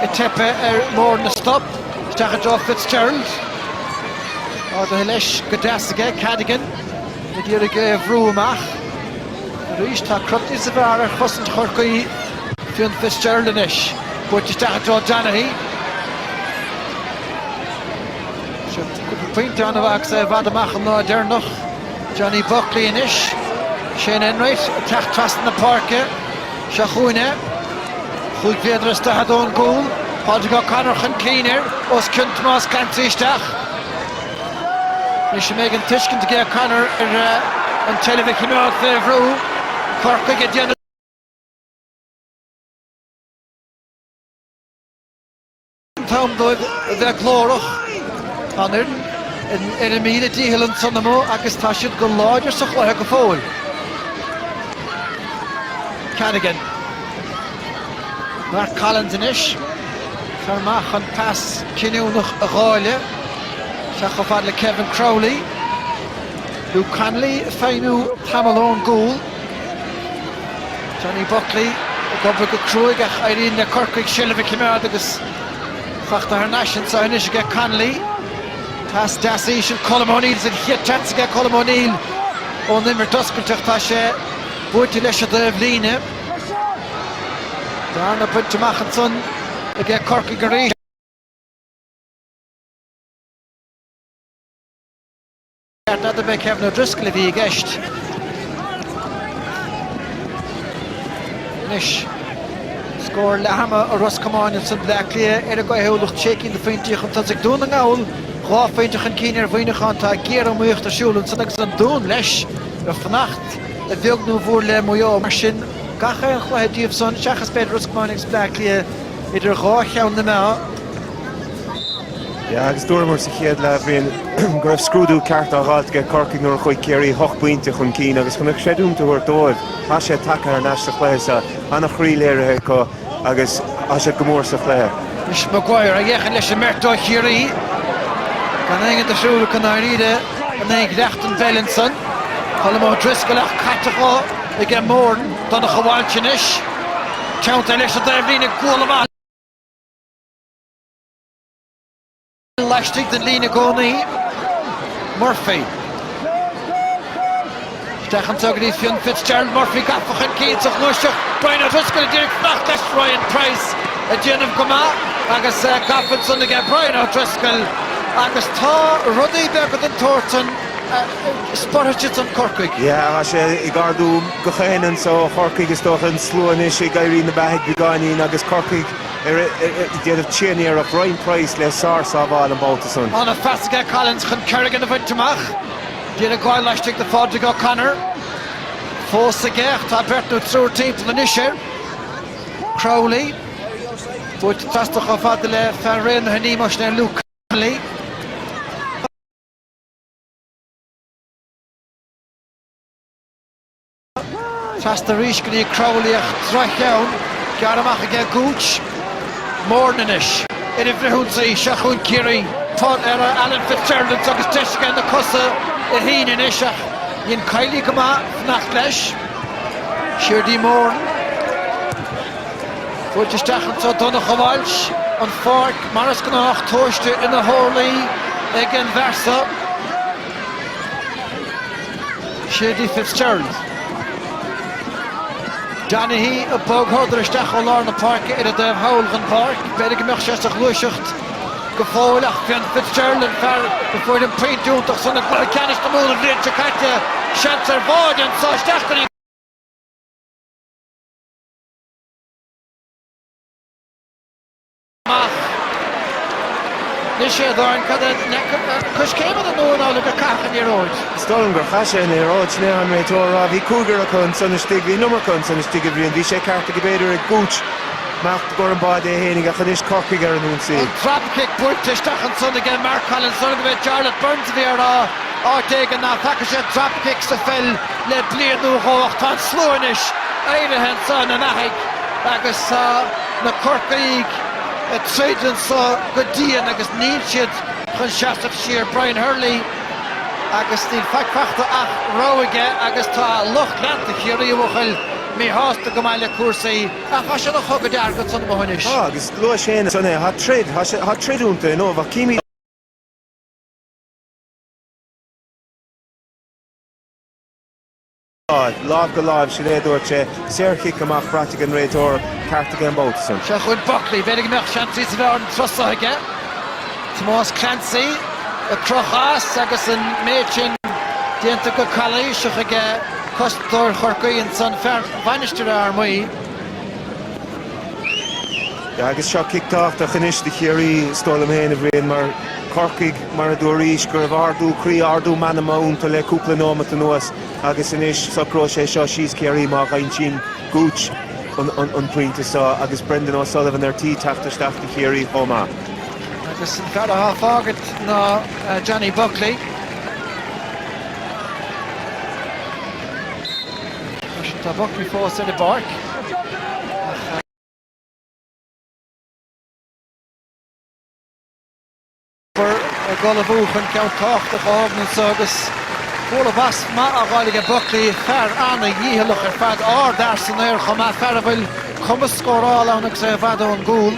ag teip ar Moran a stop. Isteach i dtreo Fitzgerald. Ardaithe leis go deas aige. Cadogan ag iarraidh é a bhrú amach. Arís tá Crotty sa bhearna ar chosaint Chorcaí, Fionn Fitzgerald anois. Buailte isteach i dtreo Donaghy. Sé cúpla pointe annamh agus é i bhfad amach an lá deireanach. Johnny Buckley anois. Shane Enright ag teacht trasna na páirce. Seo chugainn é. Chúig méadar is daichead ón gcúl. Pádraig O'Connor chun cinn air. Os cionn Tomás Clancy isteach. Anois an mbeidh an tuiscint ag O'Connor ar an tseilbh a chimeád fé bhrú, Corcaigh ag déanamh. an t-am dóibh a bheith glórach. An fhoireann ar a míle dícheall ansan amuigh agus tá siad go láidir sa chluiche go fóill. Kerrigan. Mark Collins anois. Fear maith chun pas cinniúnach a dháileadh. Isteach chomh fada le Kevin Crowley. Luke Connolly ag feidhmiú tamall ón gcúl. Johnny Buckley ag obair go cruaidh ach éiríonn le Corcaigh seilbh a choimeád agus faighte thar n-ais anseo anois aige Connolly. Pas deas íseal Colm O'Neill sa chéad tseans aige Colm O'Neill ón imirt oscailte ach tá sé buailte leis i dtaobhlíne. Bearna bainte amach ansan aige Corcaigh arís. Ceart n'fheadar ab é Kevin O'Driscoll a bhí i gceist. Anois, scór leathama ó Ros Comáin ansan Bleá Cliath ar a gcaothúlacht sé cinn de phointí chun tosaigh Dún na nGall, dhá phointe chun cinn ar Mhuineachán. Tá géar-iomaíocht ar siúl ansan agus an Dún leis ag fanacht, a bheag nó a mhór le Maigh Eo. Mar sin, gach aon chluiche díobh san, seachas b'fhéidir Ros Comáin agus Bleá Cliath, idir dhá cheann na meá, Yeah agus dúramar sa chéad leath, Brian, go raibh scrúdú ceart á dh'fháilt ag Corcaigh nuair a chuaigh Ciarraí ocht bpointe chun cinn agus chun an chreidiúint a thabhairt dóibh, tá siad tagtha thar n-ais sa chluiche seo, an-chroí léirithe acu agus tá siad go mór sa chluiche. Anois Maguire ag féachaint leis an mbeirt ó Chiarraí. Gan aon rud ar siúl acu i ndáiríre in aghaidh dhleacht an Mheileain san. Colm O'Driscoll ach caite dhó aige Moran, Donncha Walsh anois. Teannta leis an dtaobhlíne, guala mhaith! laistigh den líne i gcónaí. Murphy. Isteach anseo go dtí Fionn Fitzgerald. Murphy gafa chun cinn sa ghluaiseacht. Brian O'Driscoll ag iarraidh fanacht leis. Ryan Price ag déanamh go maith agus eh, gafa ansan aige Brian O'Driscoll. Agus tá rudaí beaga den tsórt san eh, spreagfaidh san Corcaigh. Yeah, tá sé ag ardú gach éinne anso ó Chorcaigh. Is dócha an slua anois ag éirí ina beathaidh beagáinín agus Corcaigh Déanamh tréaniarracht Ryan Price le sárshábháil an babhta san. Ana-phas aige Collins chun Kerrigan a bhaint amach. D'iarraidh gabháil laistigh de Phádraig O'Connor fós aige ach tá beirt nó triúr timpeall anois air. Crowley buailte trasna chomh fada le fear Raonaithe Nemo, sin é Luke Connolly. Trasna arís go dtí Crowley ach droch-cheann gearrtha amach aige Gooch. Moran anois ar an bhfrithionsaí. Seo chugainn Ciarraí. Fáil ar Alan Fitzgerald agus deis aige na cosa a shíneadh anois ach dhein Kiely go maith fanacht leis. Siar dtí Moran. Buailte isteach anseo Donncha Walsh an pháirc mar is gnách, tomhaiste ina horlaí ag an bhfear so. Siar dtí Fitzgerald. Donaghy ag bogshodar isteach ó lár na páirce ar an dtaobh thall den pháirc. B'fhéidir go mbeadh sé sa ghluaiseacht go fóill ach b'in Fitzgerald an fear a fuair an pointe iontach san i gcluiche ceannais na Mumhan an bhliain seo caite. Seans ar bháide anseo isteach go dtí. amach. D'ith sé a dhorn cad é coiscéim fhada nua ná lig a chaithfeadh an liathróid. Is dóigh liom gur chaith sé an liathróid. Sin é atá an réiteoir a rá. Bhí cúigear acu ansan istigh. Bhí an iomarca acu ansan istigh, a Bhriain. Bhí sé ceart aige, b'fhéidir, ag Gooch nach i gcomhair an bháide é fhéinig, ach anois Corcaigh ar an ionsaí. An dropkick buailte isteach ansan aige Mark Collins. Ab é Jarlath Burns a bhí á rá áit éigin nach bhfaca sé dropkick sa pheil le bliain nó dhó ach tá an slua anois éirithe ansan, ina mbeathaidh, agus tá. Na Corcaígh ag troid anso go dian agus níl siad chun seasamh siar. Brian Hurley agus níl faic fachta ach rabhadh aige agus tá lucht leanta Chiarraí, a bhuachaill, míshásta go maith le cúrsaí. Ach tá sé ina chogadh dearg ansan amuigh anois. Tá, agus luaís fhéin ansan é, tá troid, tá troid iontu inniu ach címid. Lámh go láimh, sin é a dúirt sé. Saorchic amach, braite ag an réiteoir, ceart aige an babhta san. Seo chugainn Buckley, b'fhéidir go mbeadh seans níos fearr an turas so aige. Tomás Clancy ag crochadh as agus an méid sin déanta go calaoiseach aige cosantóir Chorcaí ansan, fear Mhainistir Fhear Maí. Agus seo cic tábhachtach anois do Chiarraí. Is dóigh liom féin, a Bhriain, mar Corcaigh, mar a dúraís, go raibh ardú croí, ardú meanma iontu le cúpla nóimeat anuas. Agus anois, socróidh sé seo síos Ciarraí má aimsíonn Gooch an pointe seo agus Brendan O'Sullivan ar tí teacht isteach do Chiarraí chomh maith. Agus an fear atá ag fágaint ná Johnny Buckley. Freisin tá Buckley fós ar an bpáirc. Cooper ag ullmhú chun ceann tábhachtach a thógaint anseo agus bualadh bas maith á fháil aige, Buckley, fear an-dhícheallach ar fad, ardfhear san aer chomh maith, fear a bhfuil cumas scórála ann agus é i bhfad ón gcúl.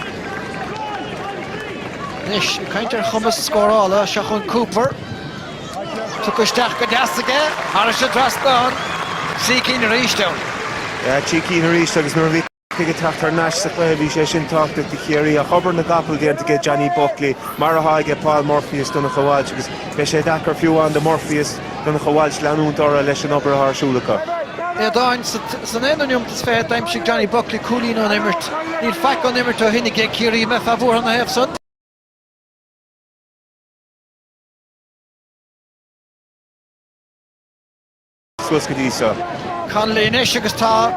Anois, ag caint ar chumas scórála, seo chugainn Cooper. Tugtha isteach go deas aige, thairis an trasnán, trí cinn arís ann. Yeah, trí cinn arís agus nuair a bhí. Corcaigh ag teacht thar n-ais sa chluiche, bhí sé sin tábhachtach do Chiarraí. Ach obair na gcapall déanta aige Johnny Buckley, mar atá aige Paul Murphy is Donncha Walsh, agus beidh sé deacair fiú amháin do Murphy is Donncha Walsh leanúint orthu leis an obair atá ar siúl acu. Aodáin, San aonú neomat is fiche d'aimsigh Johnny Buckley cúilín ón imirt. Níl faic ón imirt ó shin aige Ciarraí, an mbeifeá buartha ina thaobh san. suas go dtí seo. Connolly anois agus tá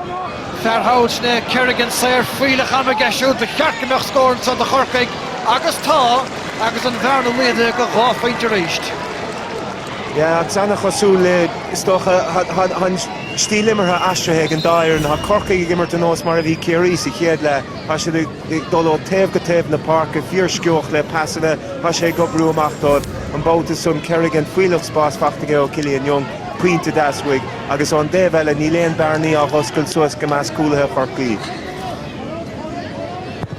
fear thall ansan, Kerrigan, saor. Fuílleach ama aige siúd. Ba cheart go mbeadh scór anseo do Chorcaigh agus tá agus an bhearna laghdaithe go dhá phointe arís. Yeah, an-chosúil le, is dócha, tá an stíl imeartha aistrithe ag an dá fhoireann. Tá Corcaigh ag imirt ar nós mar a bhí Ciarraí sa chéad leath. Tá siad ag dul ó taobh go taobh na páirce, fíorsciobtha le pasanna. Tá sé ag oibriú amach dóibh an babhta san. Kerrigan, fuílleach spáis faighte aige ó Killian Young. pointe d'easbhaidh, agus ón dtaobh eile níl aon bearnaí á dh'oscailt suas go measc cúlaithe Chorcaí.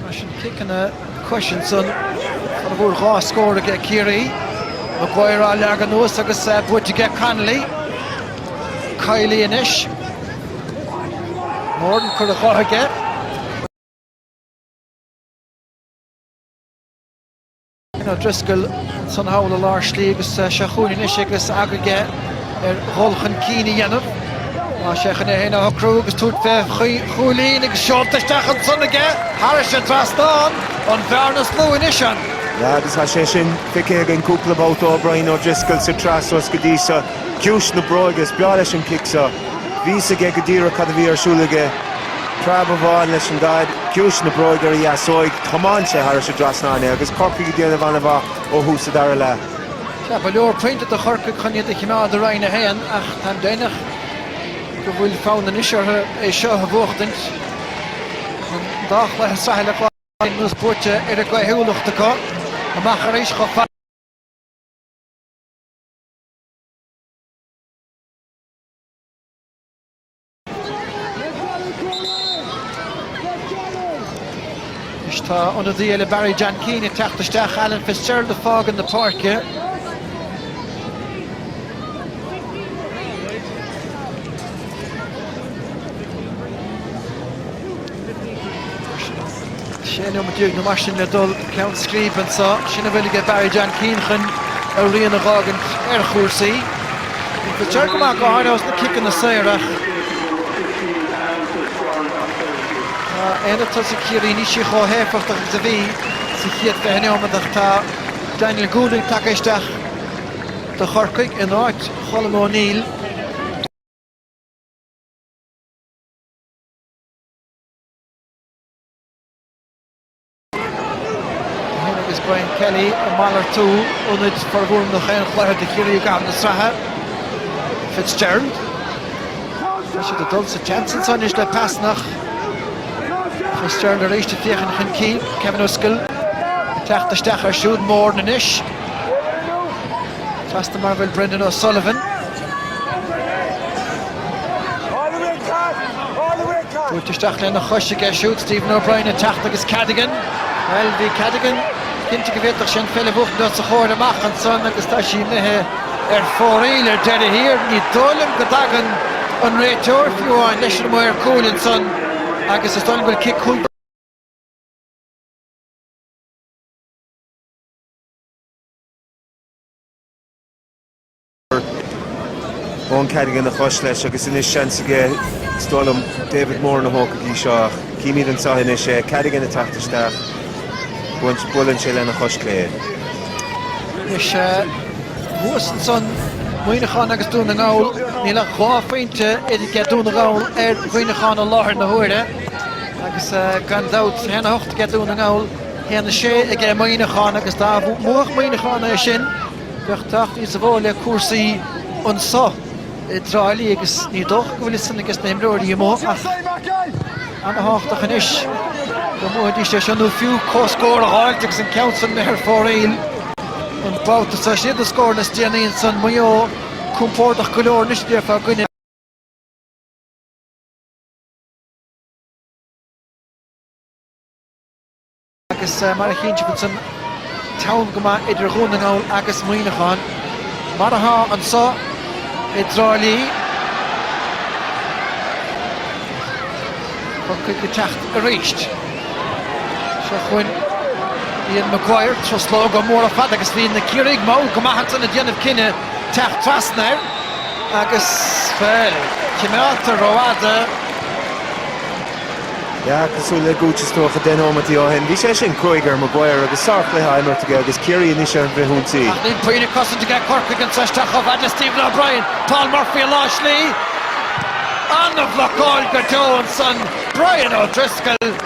Mar sin ciceanna coise san áit a bhfuair dhá scór aige Ciarraí. Maguire á leagadh anuas agus buaite aige Connolly. Kiely anois. Moran curtha dhe aige. Ian O'Driscoll ansan thall i lár slí agus sé chúilín anois aige agus aga aige ar dhul chun cinn a dhéanamh. Tá sé chun é féin a shocrú agus tabhairt fé chúilín agus seolta isteach ansan aige. Thairis an trasnán, an bhearna is lú anois ann. Agus tá sé sin feicthe againn cúpla babhta ó Brian O'Driscoll sa tsraith suas go dtí seo. ciumhais na bróige. Is breá leis an cic seo. Bhí 'fhios aige go díreach cad a bhí ar siúl aige. Preab amháin leis an gcaid, ciumhais na bróige ar a dheasóig. Thiomáin sé thairis an dtrasnán é agus Corcaigh ag déanamh an-mhaith ó thús an dara leath. Ba leor pointe do Chorcaigh chun iad a chimeád i Roinn 1 ach táim deimhneach go bhfuil fonn anois orthu é seo a bhuachtaint. An dá chluiche sraithe atá anuas buaite ar a gcaoithiúlacht acu. Amach arís chomh fada. Tá ionadaí eile Barry John Keane ag teacht isteach, Alan Fitzgerald ag fágaint na páirce. 16 nóiméad nó mar sin le dul go ceann scríbe anseo. Sin a bhfuil aige Barry John Keane chun a rian a dh'fhágaint ar chúrsaí. Tá dearg go maith go háirithe ós na ciceanna saora. Tá aonad tosaigh Chiarraí níos sia chomh héifeachtach agus a bhí sa chéad 20 neomat ach tá Daniel Goulding tagtha isteach do Chorcaigh in áit Cholm O'Neill. Bhí Hugh agus Brian Kelly ag malartú ionaid formhór nach aon chluiche do Chiarraí i gcaitheamh na sraithe. Fitzgerald. Tá siad ag dul sa tseans anseo anois le pasanna. Fitzgerald arís ag féachaint chun cinn. Kevin O'Driscoll ag teacht isteach air siúd. Moran anois. Trasna mar a bhfuil Brendan O'Sullivan. Buailte isteach lena chois aige siúd Stephen O'Brien ag teacht agus Cadogan. Bhuel, bhí Cadogan cinnte go bhféadfadh sé an pheil a bhuachaint os a chomhair amach ansan agus tá sí imithe ar fóraoil ar deireadh thiar. Ní dóigh liom go dtagann an réiteoir, fiú amháin, leis an maor cúil ansan agus is dóigh liom go bhfuil cic chúl. Eoin Cadogan a chos leis agus anois seans aige, is dóigh liom, David Moran a thóg go dtí seo ach címid anseo anois é, Cadogan ag teacht isteach, buaileann sé lena chois chlé. Anois thuas ansan Muineachán agus Dún na nGall, níl ach dhá phointe idir Dún na nGall ar Mhuineachán i láthair na huaire agus gan dabht a haon a hocht aige Dún na nGall A haon a sé aige Muineachán agus dá mbuadh Muineachán é sin bheadh tábhacht níosa mhó le cúrsaí anso i dTrá Lí agus ní dócha go bhfuil a fhios san aiges na himreoirí amuigh ach ana-thábhachtach anois go mbuafaidís é seo nó fiú comhscór a fháilt agus an ceann san imithe ar fóraoil an babhta seo. Siad na scóranna is déanaí ansan. Maigh Eo compordach go leor anois bíodh fá dhuine. agus mar a chíonn sibh ansan teann go maith idir Dhún na nGall agus Muineachán, mar atá anso i dTrá Lí. Corcaigh ag teacht arís. Seo chugainn Ian Maguire, truslóga móra fada agus bhí na Ciarraígh mall go maith ansan ag déanamh cinneadh teacht trasna air agus, bhuel, cimeádta rófhada. Sea, cosúil le Gooch is dócha 10 nóimeataí ó shin, bhí sé sin cruaidh ar Maguire agus sár-chluiche á imirt aige agus Ciarraí anois ar an bhfrithionsaí. Ach níl puinn ag cosaint aige Corcaigh anseo isteach chomh fad le Stephen O'Brien. Paul Murphy i lár slí. An-bhlocáil go deo ansan Brian O'Driscoll.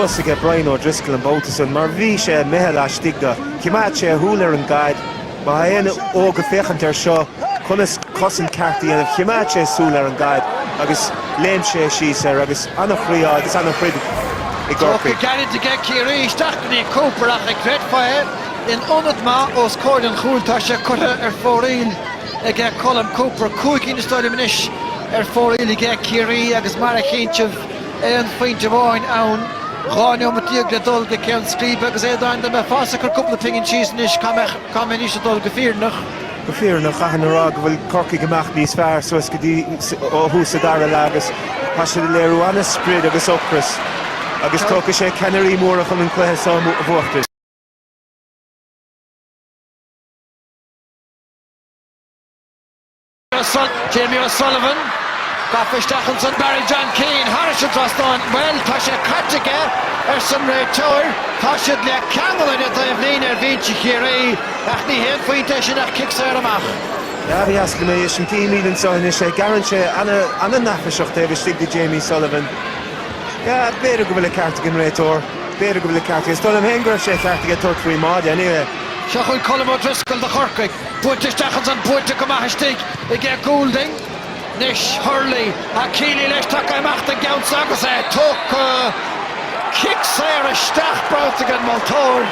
Luas aige Brian O'Driscoll an babhta san mar bhí sé imithe laistigh de. Choimeád sé a shúil ar an gcaid. Má tá éinne óg ag féachaint air seo conas cosaint ceart a dhéanamh, choimeád sé a shúil ar an gcaid agus léim sé síos air agus an-chroí agus an-throid i gCorcaigh. Tugtha gairid aige Ciarraí isteach go dtí Cooper ach cé go raibh sé in ionad maith os comhair an chúil. Tá sé curtha ar fóraoil aige Colm Cooper. Cúig cinn, is dóigh liom, anois ar fóraoil aige Ciarraí agus mar a chíonn sibh, aon phointe amháin ann. Dhá neomat déag le dul go ceann scríbe agus a Aodáin, dá mbeifeása ag cur cúpla pingin síos anois. Cá mbeidís ag dul go fírinneach? Go fírinneach, chaithfinn a rá go bhfuil Corcaigh ag imeacht níos fearr suas go dtí ó thús an dara leath agus tá siad ag léiriú an-sprid agus ocras agus tógfaidh sé ceannairí móra chun an cluiche so a bhuacht. Jamie O'Sullivan, gafa isteach ansan. Barry John Keane, thairis an trasnán. Bhuel, tá sé caite aige, arsa an réiteoir. Tá siad le ceangal ar an dtaobhlíne ar bhinse Chiarraí, ach ní haon phointe é sin ach cic saor amach. Ba dheas liom é sin, chímid anseo anois é. Gearrann sé an-mhaith isteach taobh istigh de Jamie Sullivan. Sea, b'fhéidir go bhfuil an ceart ag an réiteoir. B'fhéidir go bhfuil an ceart aige. Is dóigh liom féin go raibh sé ceart aige tabhairt faoin mbáide, anyway. Seo chugainn Colm O'Driscoll do Chorcaigh. Buailte isteach ansan, buailte go maith istigh aige Goulding. Anois Hurley, tá Kealy leis, tagtha amach don gceann seo agus é tugtha. Cic saor isteach, bronnta ag an moltóir.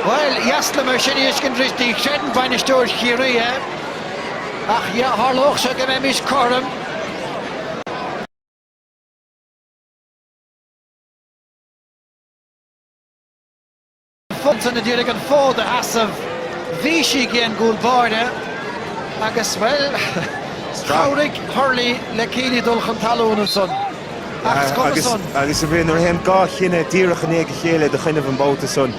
Ba dheas liom é sin a fheiscint arís, ní chreideann bainisteoir Chiarraí é. Ach yeah, tharlódh sé go mbeimis cothrom. Fothraigh na dTír ag an fód a sheasamh. Bhí sí aige an gcúl báire agus, bhuel, chabhraigh Hurley le Kealy dul chun talún ansan. Ach is cuma san. Agus ansin, nuair a théann dhá chinneadh díreach i ndiaidh a chéile i do choinnibh an babhta san,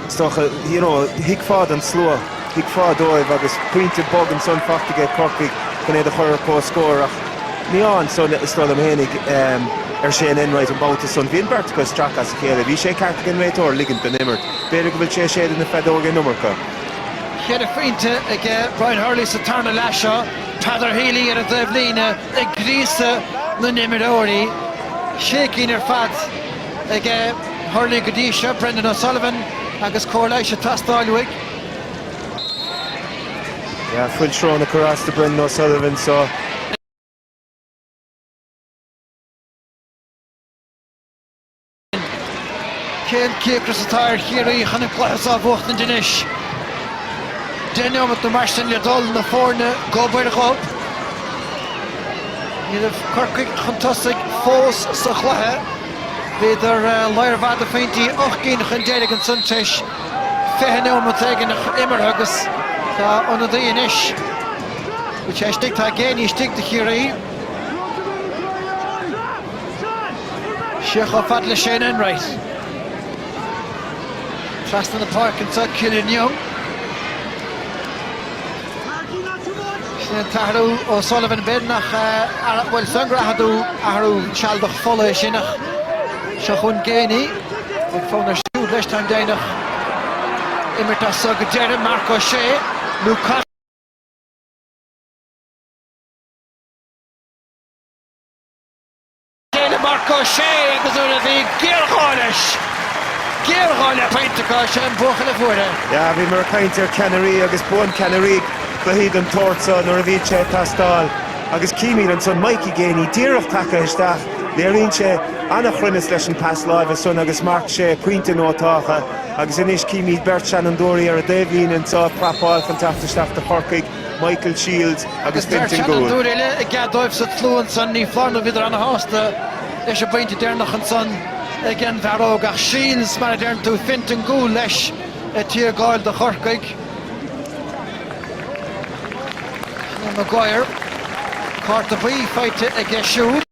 is dócha, you know, thuigfeá don slua. Thuigfeá dóibh agus pointe bog ansan fachta aige Corcaigh chun iad a chur ar comhscór ach dian ansan, is dóigh liom féinig, ar Shane Enright an babhta san. Bhí an bheirt acu ag stracadh as a chéile. Bhí sé ceart ag an réiteoir ligint don imirt. B'fhéidir go bhfuil sé ag séideadh na feadóige an iomarca. Ceithre phointe aige Brian Hurley sa tarna leath seo, Peadar Healy ar an dtaobhlíne ag gríosadh na n-imreoirí. Sé cinn ar fad aige Hurley go dtí seo, Brendan O'Sullivan agus cóir leighis ag teastáil uaidh. Yeah, fuil sróna ag cur as do Brendan O'Sullivan so. Cén cíocras atá ar Chiarraí chun an cluiche seo a bhuachtaint anois? Deich neomat nó mar sin le dul na foirne gob ar ghob. Ní raibh Corcaigh chun tosaigh fós sa chluiche. Bhíodar lear maith de phointí ocht gcinn chun deiridh an tsuntais. 20 neomat éigin imeartha agus tá ionadaí anois cé atá istigh, tá Geaney istigh do Chiarraí. Siar chomh fada le Shane Enright. Trasna na páirce anseo, Killian Young. Sin an t-athrú ó Sullivan Bin nach bhfuil sin an grathadú, athrú sealadach fola é sin ach seo chugainn Geaney agus fonn air siúd leis, táim deimhneach. Imirt as seo go deireadh, Marc Ó Sé nó. D'éiligh Marc Ó Sé agus nuair a bhí géarghá leis, géarghá le pointeacha, sé an buachaill a fuair é. Yeah, bhíomar ag caint ar cheannairí agus buann ceannairí cluichí den tsórt seo nuair a bhíonn sé ag teastáil agus címid ansan Mikey Geaney díreach tagtha isteach, léiríonn sé an-chruinneas leis an pas láimhe san agus Marc sé pointe nótáltha agus anois címid beirt seanfhondúirí ar an dtaobhlíne anseo ag prapáil chun teacht isteach do Chorcaigh. Michael Shields agus Fintan Gould. Beirt sheanfhondúir eile i gcead dóibh sa tslua ansan, ní foláir nó bhíodar ana-shásta leis an bpointe deireanach ansan ag an bhfear óg, ach Shields, mar a deireann tú, Fintan Gould leis, ag tiargáil do Chorcaigh. Conor Maguire, cárta buí faighte aige siúd.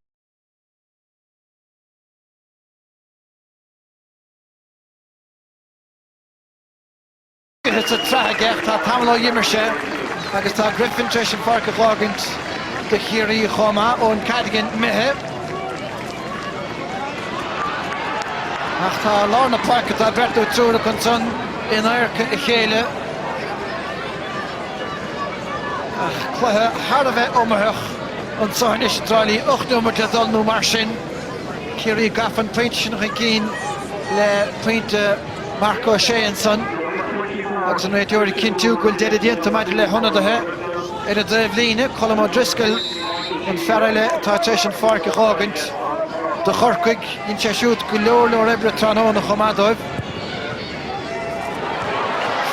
Imeartha sa tsraith aige, tá tamall ó dh'imir sé agus tá Griffin tar éis an pháirc a dh'fhágaint do Chiarraí chomh maith. Eoin Cadogan imithe. Ach tá lár na páirce, tá beirt nó triúr acu ansan in adharca a chéile. Ach cluiche thar a bheith iomaitheach anso anois i dTrá Lí. Ocht nóiméad le dhul nó mar sin. Ciarraí gafa an pointe sin chun cinn le pointe. Marc Ó Sé ansan agus an réiteoir ag cinntiú go bhfuil deireadh déanta maidir le hionadaithe ar an dtaobhlíne, Colm O'Driscoll, an fear eile atá tar éis an pháirc a dh'fhágaint do Chorcaigh. Dhein sé siúd go leor leor oibre tráthnóna chomh maith dóibh.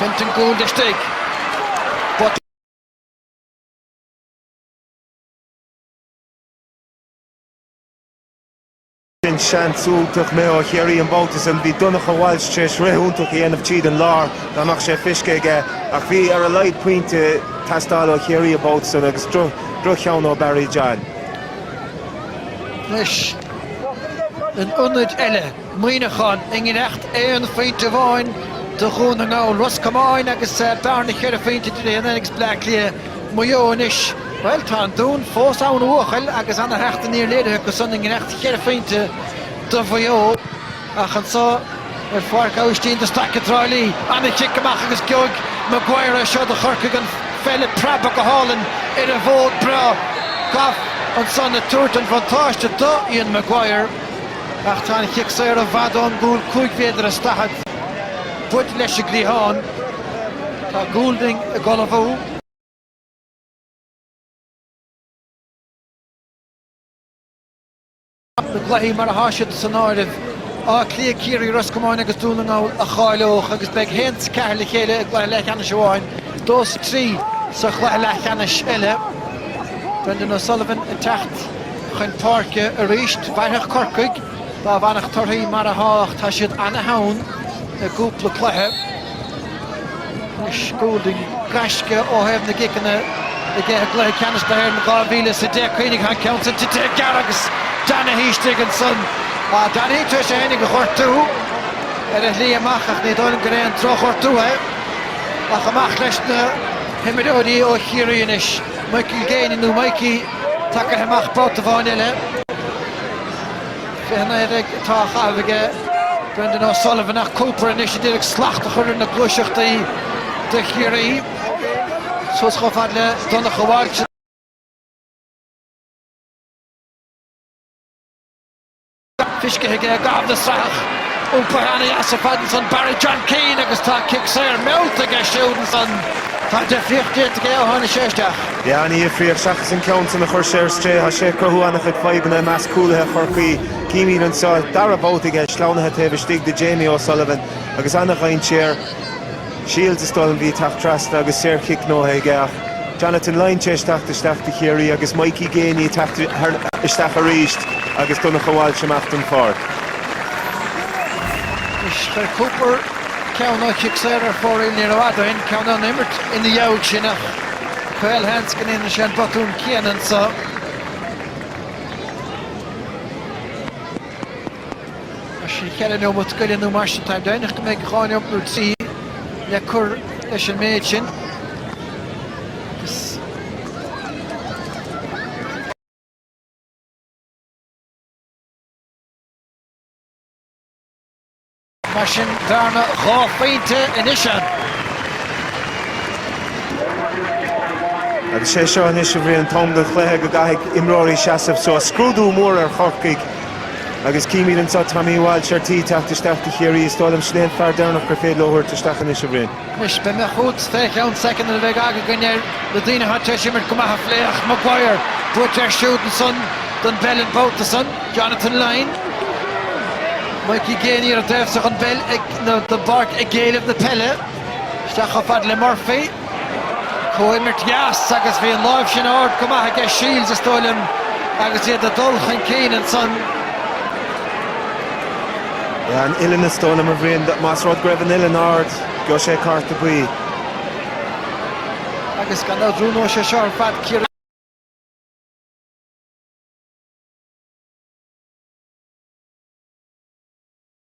Fintan Gould istigh. Sin seans iontach imithe ó Chiarraí an babhta sin. Bhí Donncha Walsh tar éis rith iontach a dhéanamh tríd an lár, dá mbeadh sé feiscithe aige, ach bhí ar a laghad pointe ag teastáil ó Chiarraí an babhta sin agus droch-cheann ó Barry John. Anois in ionaid eile, Muineachán i ngiorracht aon phointe amháin do Dhún na nGall, Ros Comáin agus bearna ceithre phointe idir iad féin agus Bleá Cliath. Maigh Eo anois. Bhuel, tá an Dún fós ann a bhuachaill agus an-theacht aniar léirithe acu san i ngiorracht cheithre phointe do Mhaigh Eo ach anseo ar Pháirc Aibhistín de Staic i dTrá Lí. An chic amach agus geobhaidh Maguire é seo do Chorcaigh an pheil ag preabadh go hálainn ar an bhfód breá, Gough ansan ag tabhairt an bhuntáiste do Ian Maguire ach tá an chic saor i bhfad ón gcúl cúig mhéadar is daichead, buailte leis an gcliathán. Tá Goulding ag ullmhú. Na cluichí mar atá siad san áireamh, Áth Cliath, Ciarraí, Ros Comáin agus Dún na nGall a cháileodh agus beidh a haon is a ceathair le chéile i gcluiche leathcheannais amháin, dó is a trí sa chluiche leathcheannais eile. Brendan O'Sullivan ag teacht chun páirce arís. Mhairfeadh Corcaigh dá bhfanfadh torthaí mar atá ach tá siad an-theann i gcúpla cluiche. Goulding gaisce ó thaobh na gciceanna i gcluiche Ceannais na hÉireann 2000 sa deich Géibheannaigh thar ceann San tite ag gearradh agus Donaghy istigh ansan. Donaghy tar éis a fhéinig a ghortú ar a shlí amach ach ní dóigh liom gur aon drochghortú é ach amach leis na himreoirí ó Chiarraí anois, Michael Geaney nó Mikey, tacaithe amach babhta amháin eile. Fiche naoi atá á chaitheamh aige Brendan O'Sullivan ach Cooper anois ag iarraidh slacht a chur ar na gluaiseachtaí do Chiarraí suas chomh fad le Donncha Walsh. Feiscithe aige i gcaitheamh na sraithe ach iompaithe an-deas ar fad ansan Barry John Keane agus tá cic saor meallta aige siúd ansan. Tá deifríocht déanta aige ó tháinig sé isteach. An-difríocht seachas an ceann san a chuir sé ar strae. Tá sé ag cruthú an-chuid fadhbanna i measc cúlaithe Chorcaí. Címid anseo dara babhta aige sleamhnaithe taobh istigh de Jamie O'Sullivan agus an dainséar. Shields is dóigh a bhí ag teacht trasna agus saorchic gnóthaithe aige ach Jonathan Lyne tar éis teacht isteach do Chiarraí agus Mikey Geaney ag teacht isteach arís agus Donnacha Walsh amach den pháirc. Anois chuir Cooper ceann ó chic saor ar fóraoil. Ní raibh fhada aon cheann ann imirt ina dhiaidh sin ach. Caolseans go ndéanann sé an botún céanna anseo. Mar sin cheithre neomat go leith nó mar sin táim deimhneach go mbeidh dhá neomat nó trí le cur leis an méid sin. Mar sin bearna dhá phointe anois ann. Agus sé seo anois a Bhriain an t-am don chluiche go gcaithfidh imreoirí seasamh suas. Scrúdú mór ar Chorcaigh. Agus címid anseo Tommy Walsh ar tí teacht isteach do Chiarraí. Is dóigh liom sin é an fear deireanach gur féidir leo thabhairt isteach anois, a Bhriain. Anois, beidh mé chugat fé cheann soicind, mar beidh againn ar na daoine atá tar éis imirt go maith a phlé, ach Maguire buailte ar siúd ansan don bpeil an babhta san, Jonathan Lyne, Mikey Geaney ar an dtaobh so den bpeil, nó, den bpáirc ag éileamh na peile, isteach chomh fada le Murphy, comhimirt dheas agus bhí an lámh sin ard go maith aige Shields is dóigh liom agus iad ag dul chun cinn ansan. An uillinn is dóigh liom, a Bhriain. Más rud go raibh an uillinn ard, gheobhadh sé cárta buí. Agus gan dabht roghnóidh sé seo ar fad Ciarraí.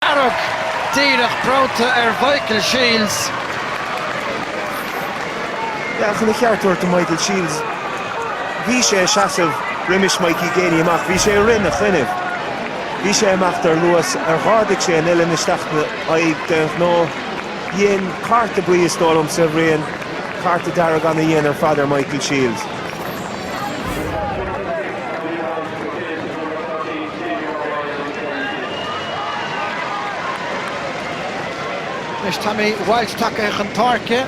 Dearg, díreach bronnta ar Mhichael Shields. Bhuel, chun a cheart a thabhairt do Mhichael Shields, bhí sé ag seasamh roimis Mikey Geaney amach, bhí sé ag rith ina choinnibh. Bhí sé ag imeacht ar luas ar dh'ardaigh sé an uillinn isteach 'na aghaidh d'aon ghnó. Dhein cárta buí, is dóigh liomsa, a Bhriain, cárta dearg ana-dhian ar fad ar Michael Shields. Anois Tommy Walsh tagtha chun páirce.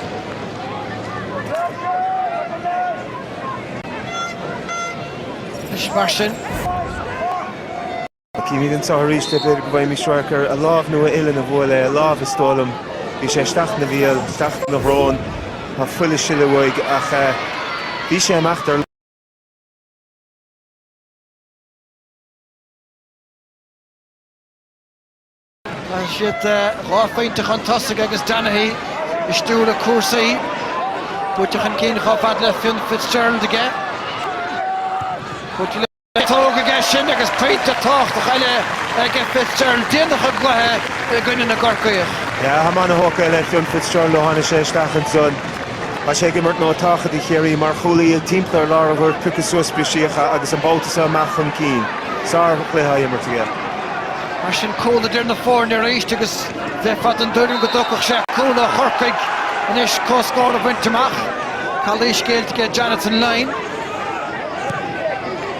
Anois mar sin. Címid anseo arís, b'fhéidir go bhfaighimís radharc ar a lámh, nó a uillinn a bhuail é, a lámh is dóigh liom. Bhí sé isteach ina bhéal, isteach ina shrón, tá fuil ag sileadh uaidh, ach bhí sé ag imeacht, dar liom. Caithfidh siad dhá phointe chun tosaigh agus Donaghy ag stiúradh cúrsaí. Buailte chun cinn chomh fada le Fionn Fitzgerald aige. Buailte le ciotóg aige sin agus pointe tábhachtach eile ag Fitzgerald déanach sa gcluiche i gcoinne na gCorcaíoch. Yeah, táim ana-thógtha le Fionn Fitzgerald ó tháinig sé isteach ansan. Tá sé ag imirt ról tábhachtach do Chiarraí mar chúlaí timpeall ar lár an ghoirt, ag piocadh suas briseacha agus an babhta seo amach chun cinn. Sárchluiche á imirt aige. Mar sin, cúl idir na foirne arís agus bheifeá den dtuairim go dtógfadh sé cúl ó Chorcaigh anois comhscór a bhaint amach. Calaois géillte aige Jonathan Lyne.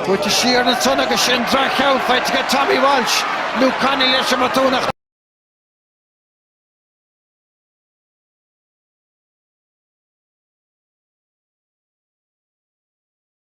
Buailte siar ansan agus sin droch-cheann faighte aige Tommy Walsh. Luke Connolly leis an mbotún.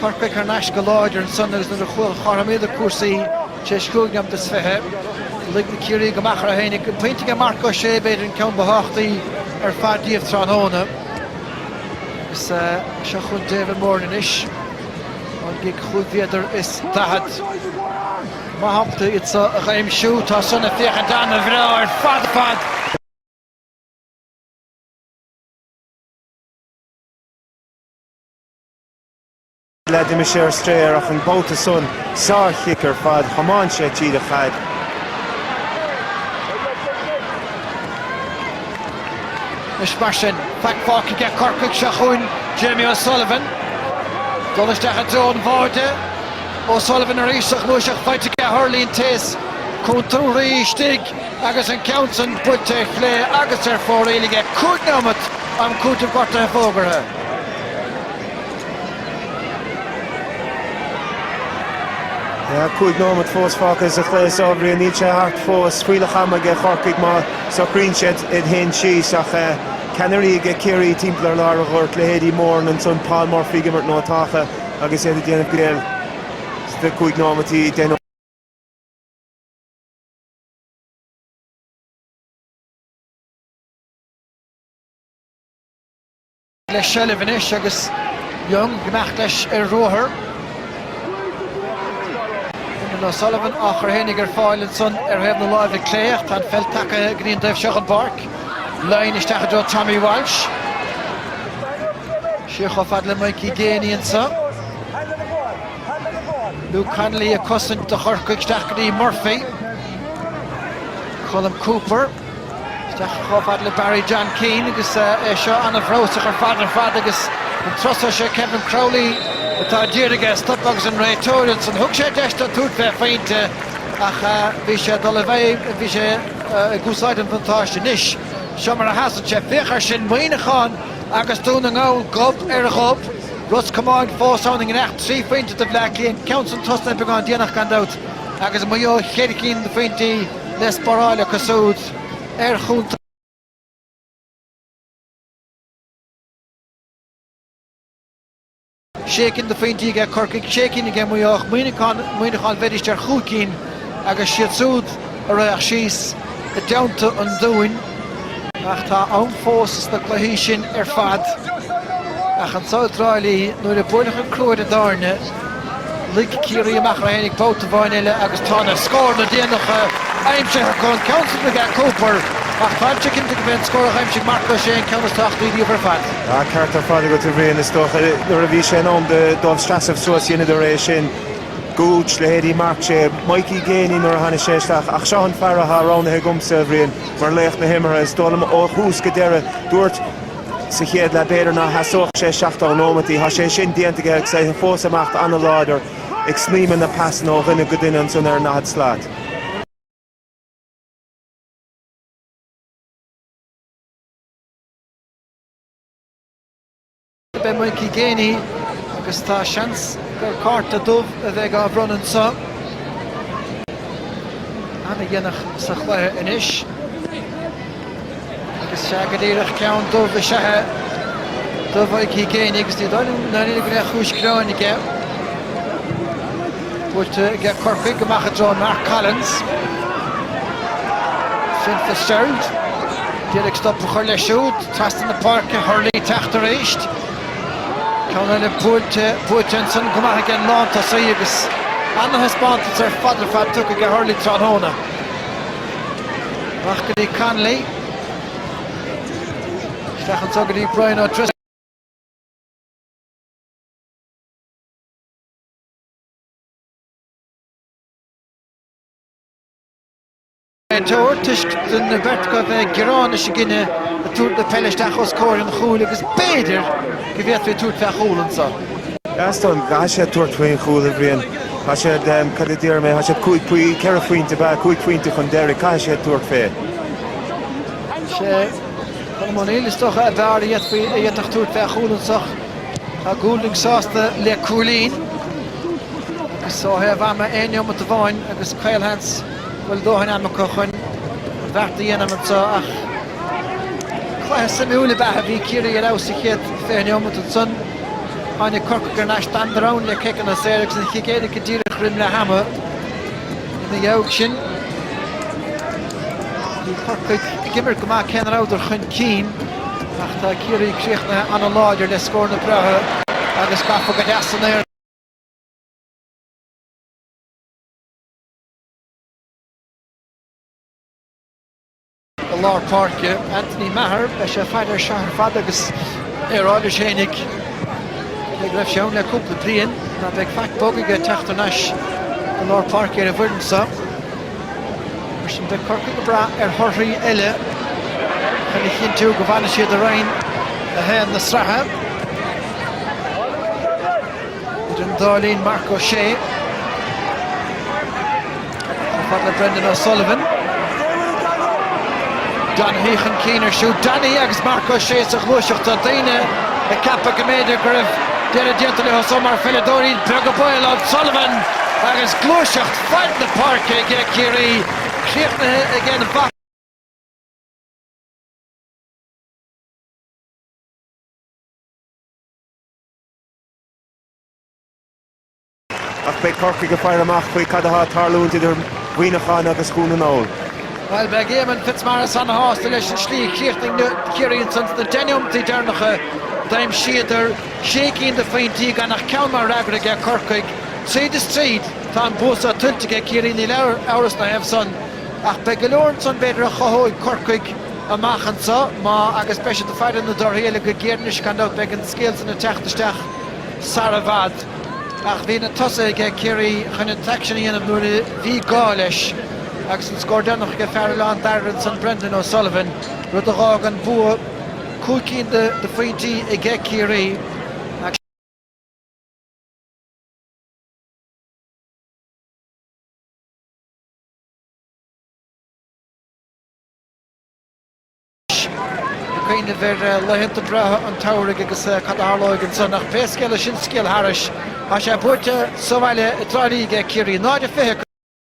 Corcaigh thar n-ais go láidir ansan agus nuair a chothromaíodar cúrsaí tar éis chúig nóimeat is fiche, lig na Ciarraígh amach orthu fhéinig, pointe aige Marc Ó Sé b'fhéidir an ceann ba thábhachtaí ar fad díobh tráthnóna. Agus seo chugainn David Moran anois ón gcic chúig mhéadar is daichead. Maith agat iad seo a aimsiú. Tá san ag féachaint an-bhreá ar fad ar fad! Leath d'imigh sé ar strae air ach an babhta san, sár-chic ar fad, thiomáin sé tríd an chaid. Anois mar sin, faic fágtha aige Corcaigh seo chugainn, Jamie O'Sullivan. Dul isteach i dtreo an bháide. O'Sullivan arís sa ghluaiseacht faighte aige Hurley, an té is cúntúrthaí istigh. Agus an ceann san buailte ar chlé agus ar fóraoil aige, cúig neomat, am cúitimh gortaithe fógartha. Tá cúig neomat fós fágtha sa chluiche is dá bhrí sin níl sé thart fós. Fuílleach ama aige Corcaigh má socraíonn siad iad féin síos ach ceannairí aige Ciarraí timpeall ar lár an ghoirt, leithéidí Moran ansan, Paul Murphy ag imirt nótáltha agus iad ag déanamh greille sna cúig neomataí, deich nóiméad. le seilbh anois agus Young ag imeacht leis ar a ruathar. Darran O'Sullivan á chur fhéinig ar fáil ansan ar thaobh na láimhe clé ach tá an pheil tagaithe go dtí an dtaobh seo den bpáirc. Lyne isteach i dtreo Tommy Walsh. Siar chomh fada le Mikey Geaney ansan. Luke Connolly ag cosaint do Chorcaigh, isteach go dtí Murphy. Colm Cooper, isteach chomh fada le Barry John Keane agus é seo an-bhreosach ar fad ar fad agus an turas so sé Kevin Crowley atá ag iarraidh é a stopadh agus an réiteoir ansan. Thug sé deis dó tabhairt fé phointe ach bhí sé ag dul i bhfeidhm, bhí sé ag úsáid an bhuntáiste. Anois, seo mar a sheasann sé, féach air sin, Muineachán agus Dún na nGall gob ar ghob. Ros Comáin fós ann i ngiorracht trí phointe do Bhleá Cliath, ceann san tosnaithe beagán déanach gan dabht, agus Maigh Eo cheithre cinn de phointí le spáráil acu súd ar chontae. sé cinn de phointí aige Corcaigh, sé cinn aige Maigh Eo, ach Muineachán bheidís ar chúig cinn agus siad súd a raghadh síos i dteannta an Dúin. Ach tá am fós sna cluichí sin ar fad. Ach anseo i dTrá Lí, nuair a buaileadh an crú ar an dtairne, lig Ciarraí amach iad féinig babhta amháin eile agus tá na scóranna déanacha aimsithe acu, an ceann san do Gooch Cooper, ach táimse cinnte gurb é an scór a d'aimsigh Marc Ó Sé an ceann is tábhachtaí díobh ar fad. Tá an ceart ar fad agat, a Bhriain. Is dócha, nuair a bhí sé in am dóibh seasamh suas, dheineadar é sin. Gooch, leithéidí Marc Ó Sé, Mikey Geaney nuair a tháinig sé isteach, ach seo an fear athá roghnaithe agamsa, a Bhriain, mar laoch na himeartha. Is dóigh liom ó thús go deireadh, dúirt sa chéad leath b'fhéidir ná sheasódh sé 70 nóimeataí, thá sé sin déanta aige agus é fós ag imeacht ana-láidir ag snaidhmeadh na pasanna ó dhuine go duine ansan ar an 40 slat. Beidh Mikey Geaney agus tá seans gur cárta dubh a bheidh á bhronnadh anseo. Ana dhéanach sa chluiche anois. Agus sé go díreach ceann dubh is ea é do Mikey Geaney agus ní dóigh liom dáiríre go mbeidh cúis gearáin aige. Buaite aige Corcaigh amach i dtreo Mark Collins. Fionn Fitzgerald. D'iarraidh stop a chur leis siúd. Trasna na páirce, Hurley teacht arís. Ceann eile buailte, buaite ansin go maith aige an lántosaí agus ana-thaispeántas ar fad ar fad tugtha aige Hurley tráthnóna. Amach go dtí Connolly. Isteach anseo go dtí Brian O'Driscoll. Ag tabhairt toisc do na Vertigo a bheith ag gearán is ag gineadh ag tabhairt na peile isteach os comhair an chúil agus b'fhéidir go bhféadfaí tabhairt fé chúl anso. Gaston, Caithfidh sé tabhairt faoin chúl a Bhriain. Tá siad, cad a déarfaidh mé, tá siad cúig poi, ceithre phointe, b'ea, cúig phointe chun deiridh, caithfidh siad tabhairt fé. Sé, Colm O'Neill, is dócha, ab fhearr a d'fhéadfaí, a d'fhéadfadh tabhairt fé chúl anso. Tá Goulding sásta le cúilín agus ó thaobh ama aon neomat amháin agus caolsheans go bhfuil dóthain ama acu chun an beart a dhéanamh anseo ach cluiche suimiúil ab ea. Bhí Ciarraí ar fheabhas sa chéad 20 neomat ansan tháinig Corcaigh thar n-ais gan dabht le ciceanna saor agus an chic éirice díreach roim leath ama. Ina dhiaidh sin bhí Corcaigh ag imirt go maith cé ná rabhadar chun cinn. Ach tá Ciarraí críochnaithe an-láidir le scóranna breátha agus gafa go deas san aer. I lár páirce, Anthony Maher, beidh sé ag faire air seo ar fad agus é ag rá leis fhéinig go raibh sé ann le cúpla bliain. Ná beidh faic bog aige teacht thar n-ais i lár páirce ar an bhfoireann seo. Mar sin, beidh Corcaigh ag brath ar thorthaí eile chun a chinntiú go bhfanfaidh siad i Roinn 1 na sraithe. Idir an dá linn, Marc Ó Sé chomh fada le Brendan O'Sullivan. Donaghy chun cinn air siúd. Donaghy agus Marc Ó Sé sa ghluaiseacht. Tá daoine ag ceapadh go mb'fhéidir go raibh deireadh déanta le Ó Sé mar pheileadóir. Is beag an baol. O'Sullivan agus gluaiseacht Fad na páirce aige Ciarraí críochnaithe acu. Ach beidh Corcaigh ag faire amach féach cad atá ag tarlúint idir Mhuineacháin agus Dhún na nGall. Bhuel beidh Éamonn Fitzmaurice an-shásta leis an slí a chríochnaigh Ciarraí ansan sna deich neomataí deireanacha. D'aimsíodar sé cinn de phointí gan ach ceann mar fhreagra aige Corcaigh. Tríd is tríd. Tá an bua seo tuillte ag Ciarraí, níl amhras na thaobh san, ach beidh go leor ansan b'fhéidir a chothóidh Corcaigh amach anseo agus beidh siad ag faire na dtorthaí eile go géar anois gan dabht beidh an scéal san ag teacht isteach sara bhfad. Ach bhí na tosaithe aige Ciarraí chun an t-aicsean a dhéanamh nuair a bhí gá leis agus an scór deireanach aige fear Oileán Dairbhre ansan Brendan O'Sullivan, rud a dh'fhág an bua cúig cinn de phointí aige Ciarraí. ag cuimhneamh ar laethanta breátha an tsamhraidh agus cad a tharlóidh ansan ach pé scéal é sin scéal thairis, tá sé buaite sa bhaile i dTrá Lí aige Ciarraí, 0-25 go.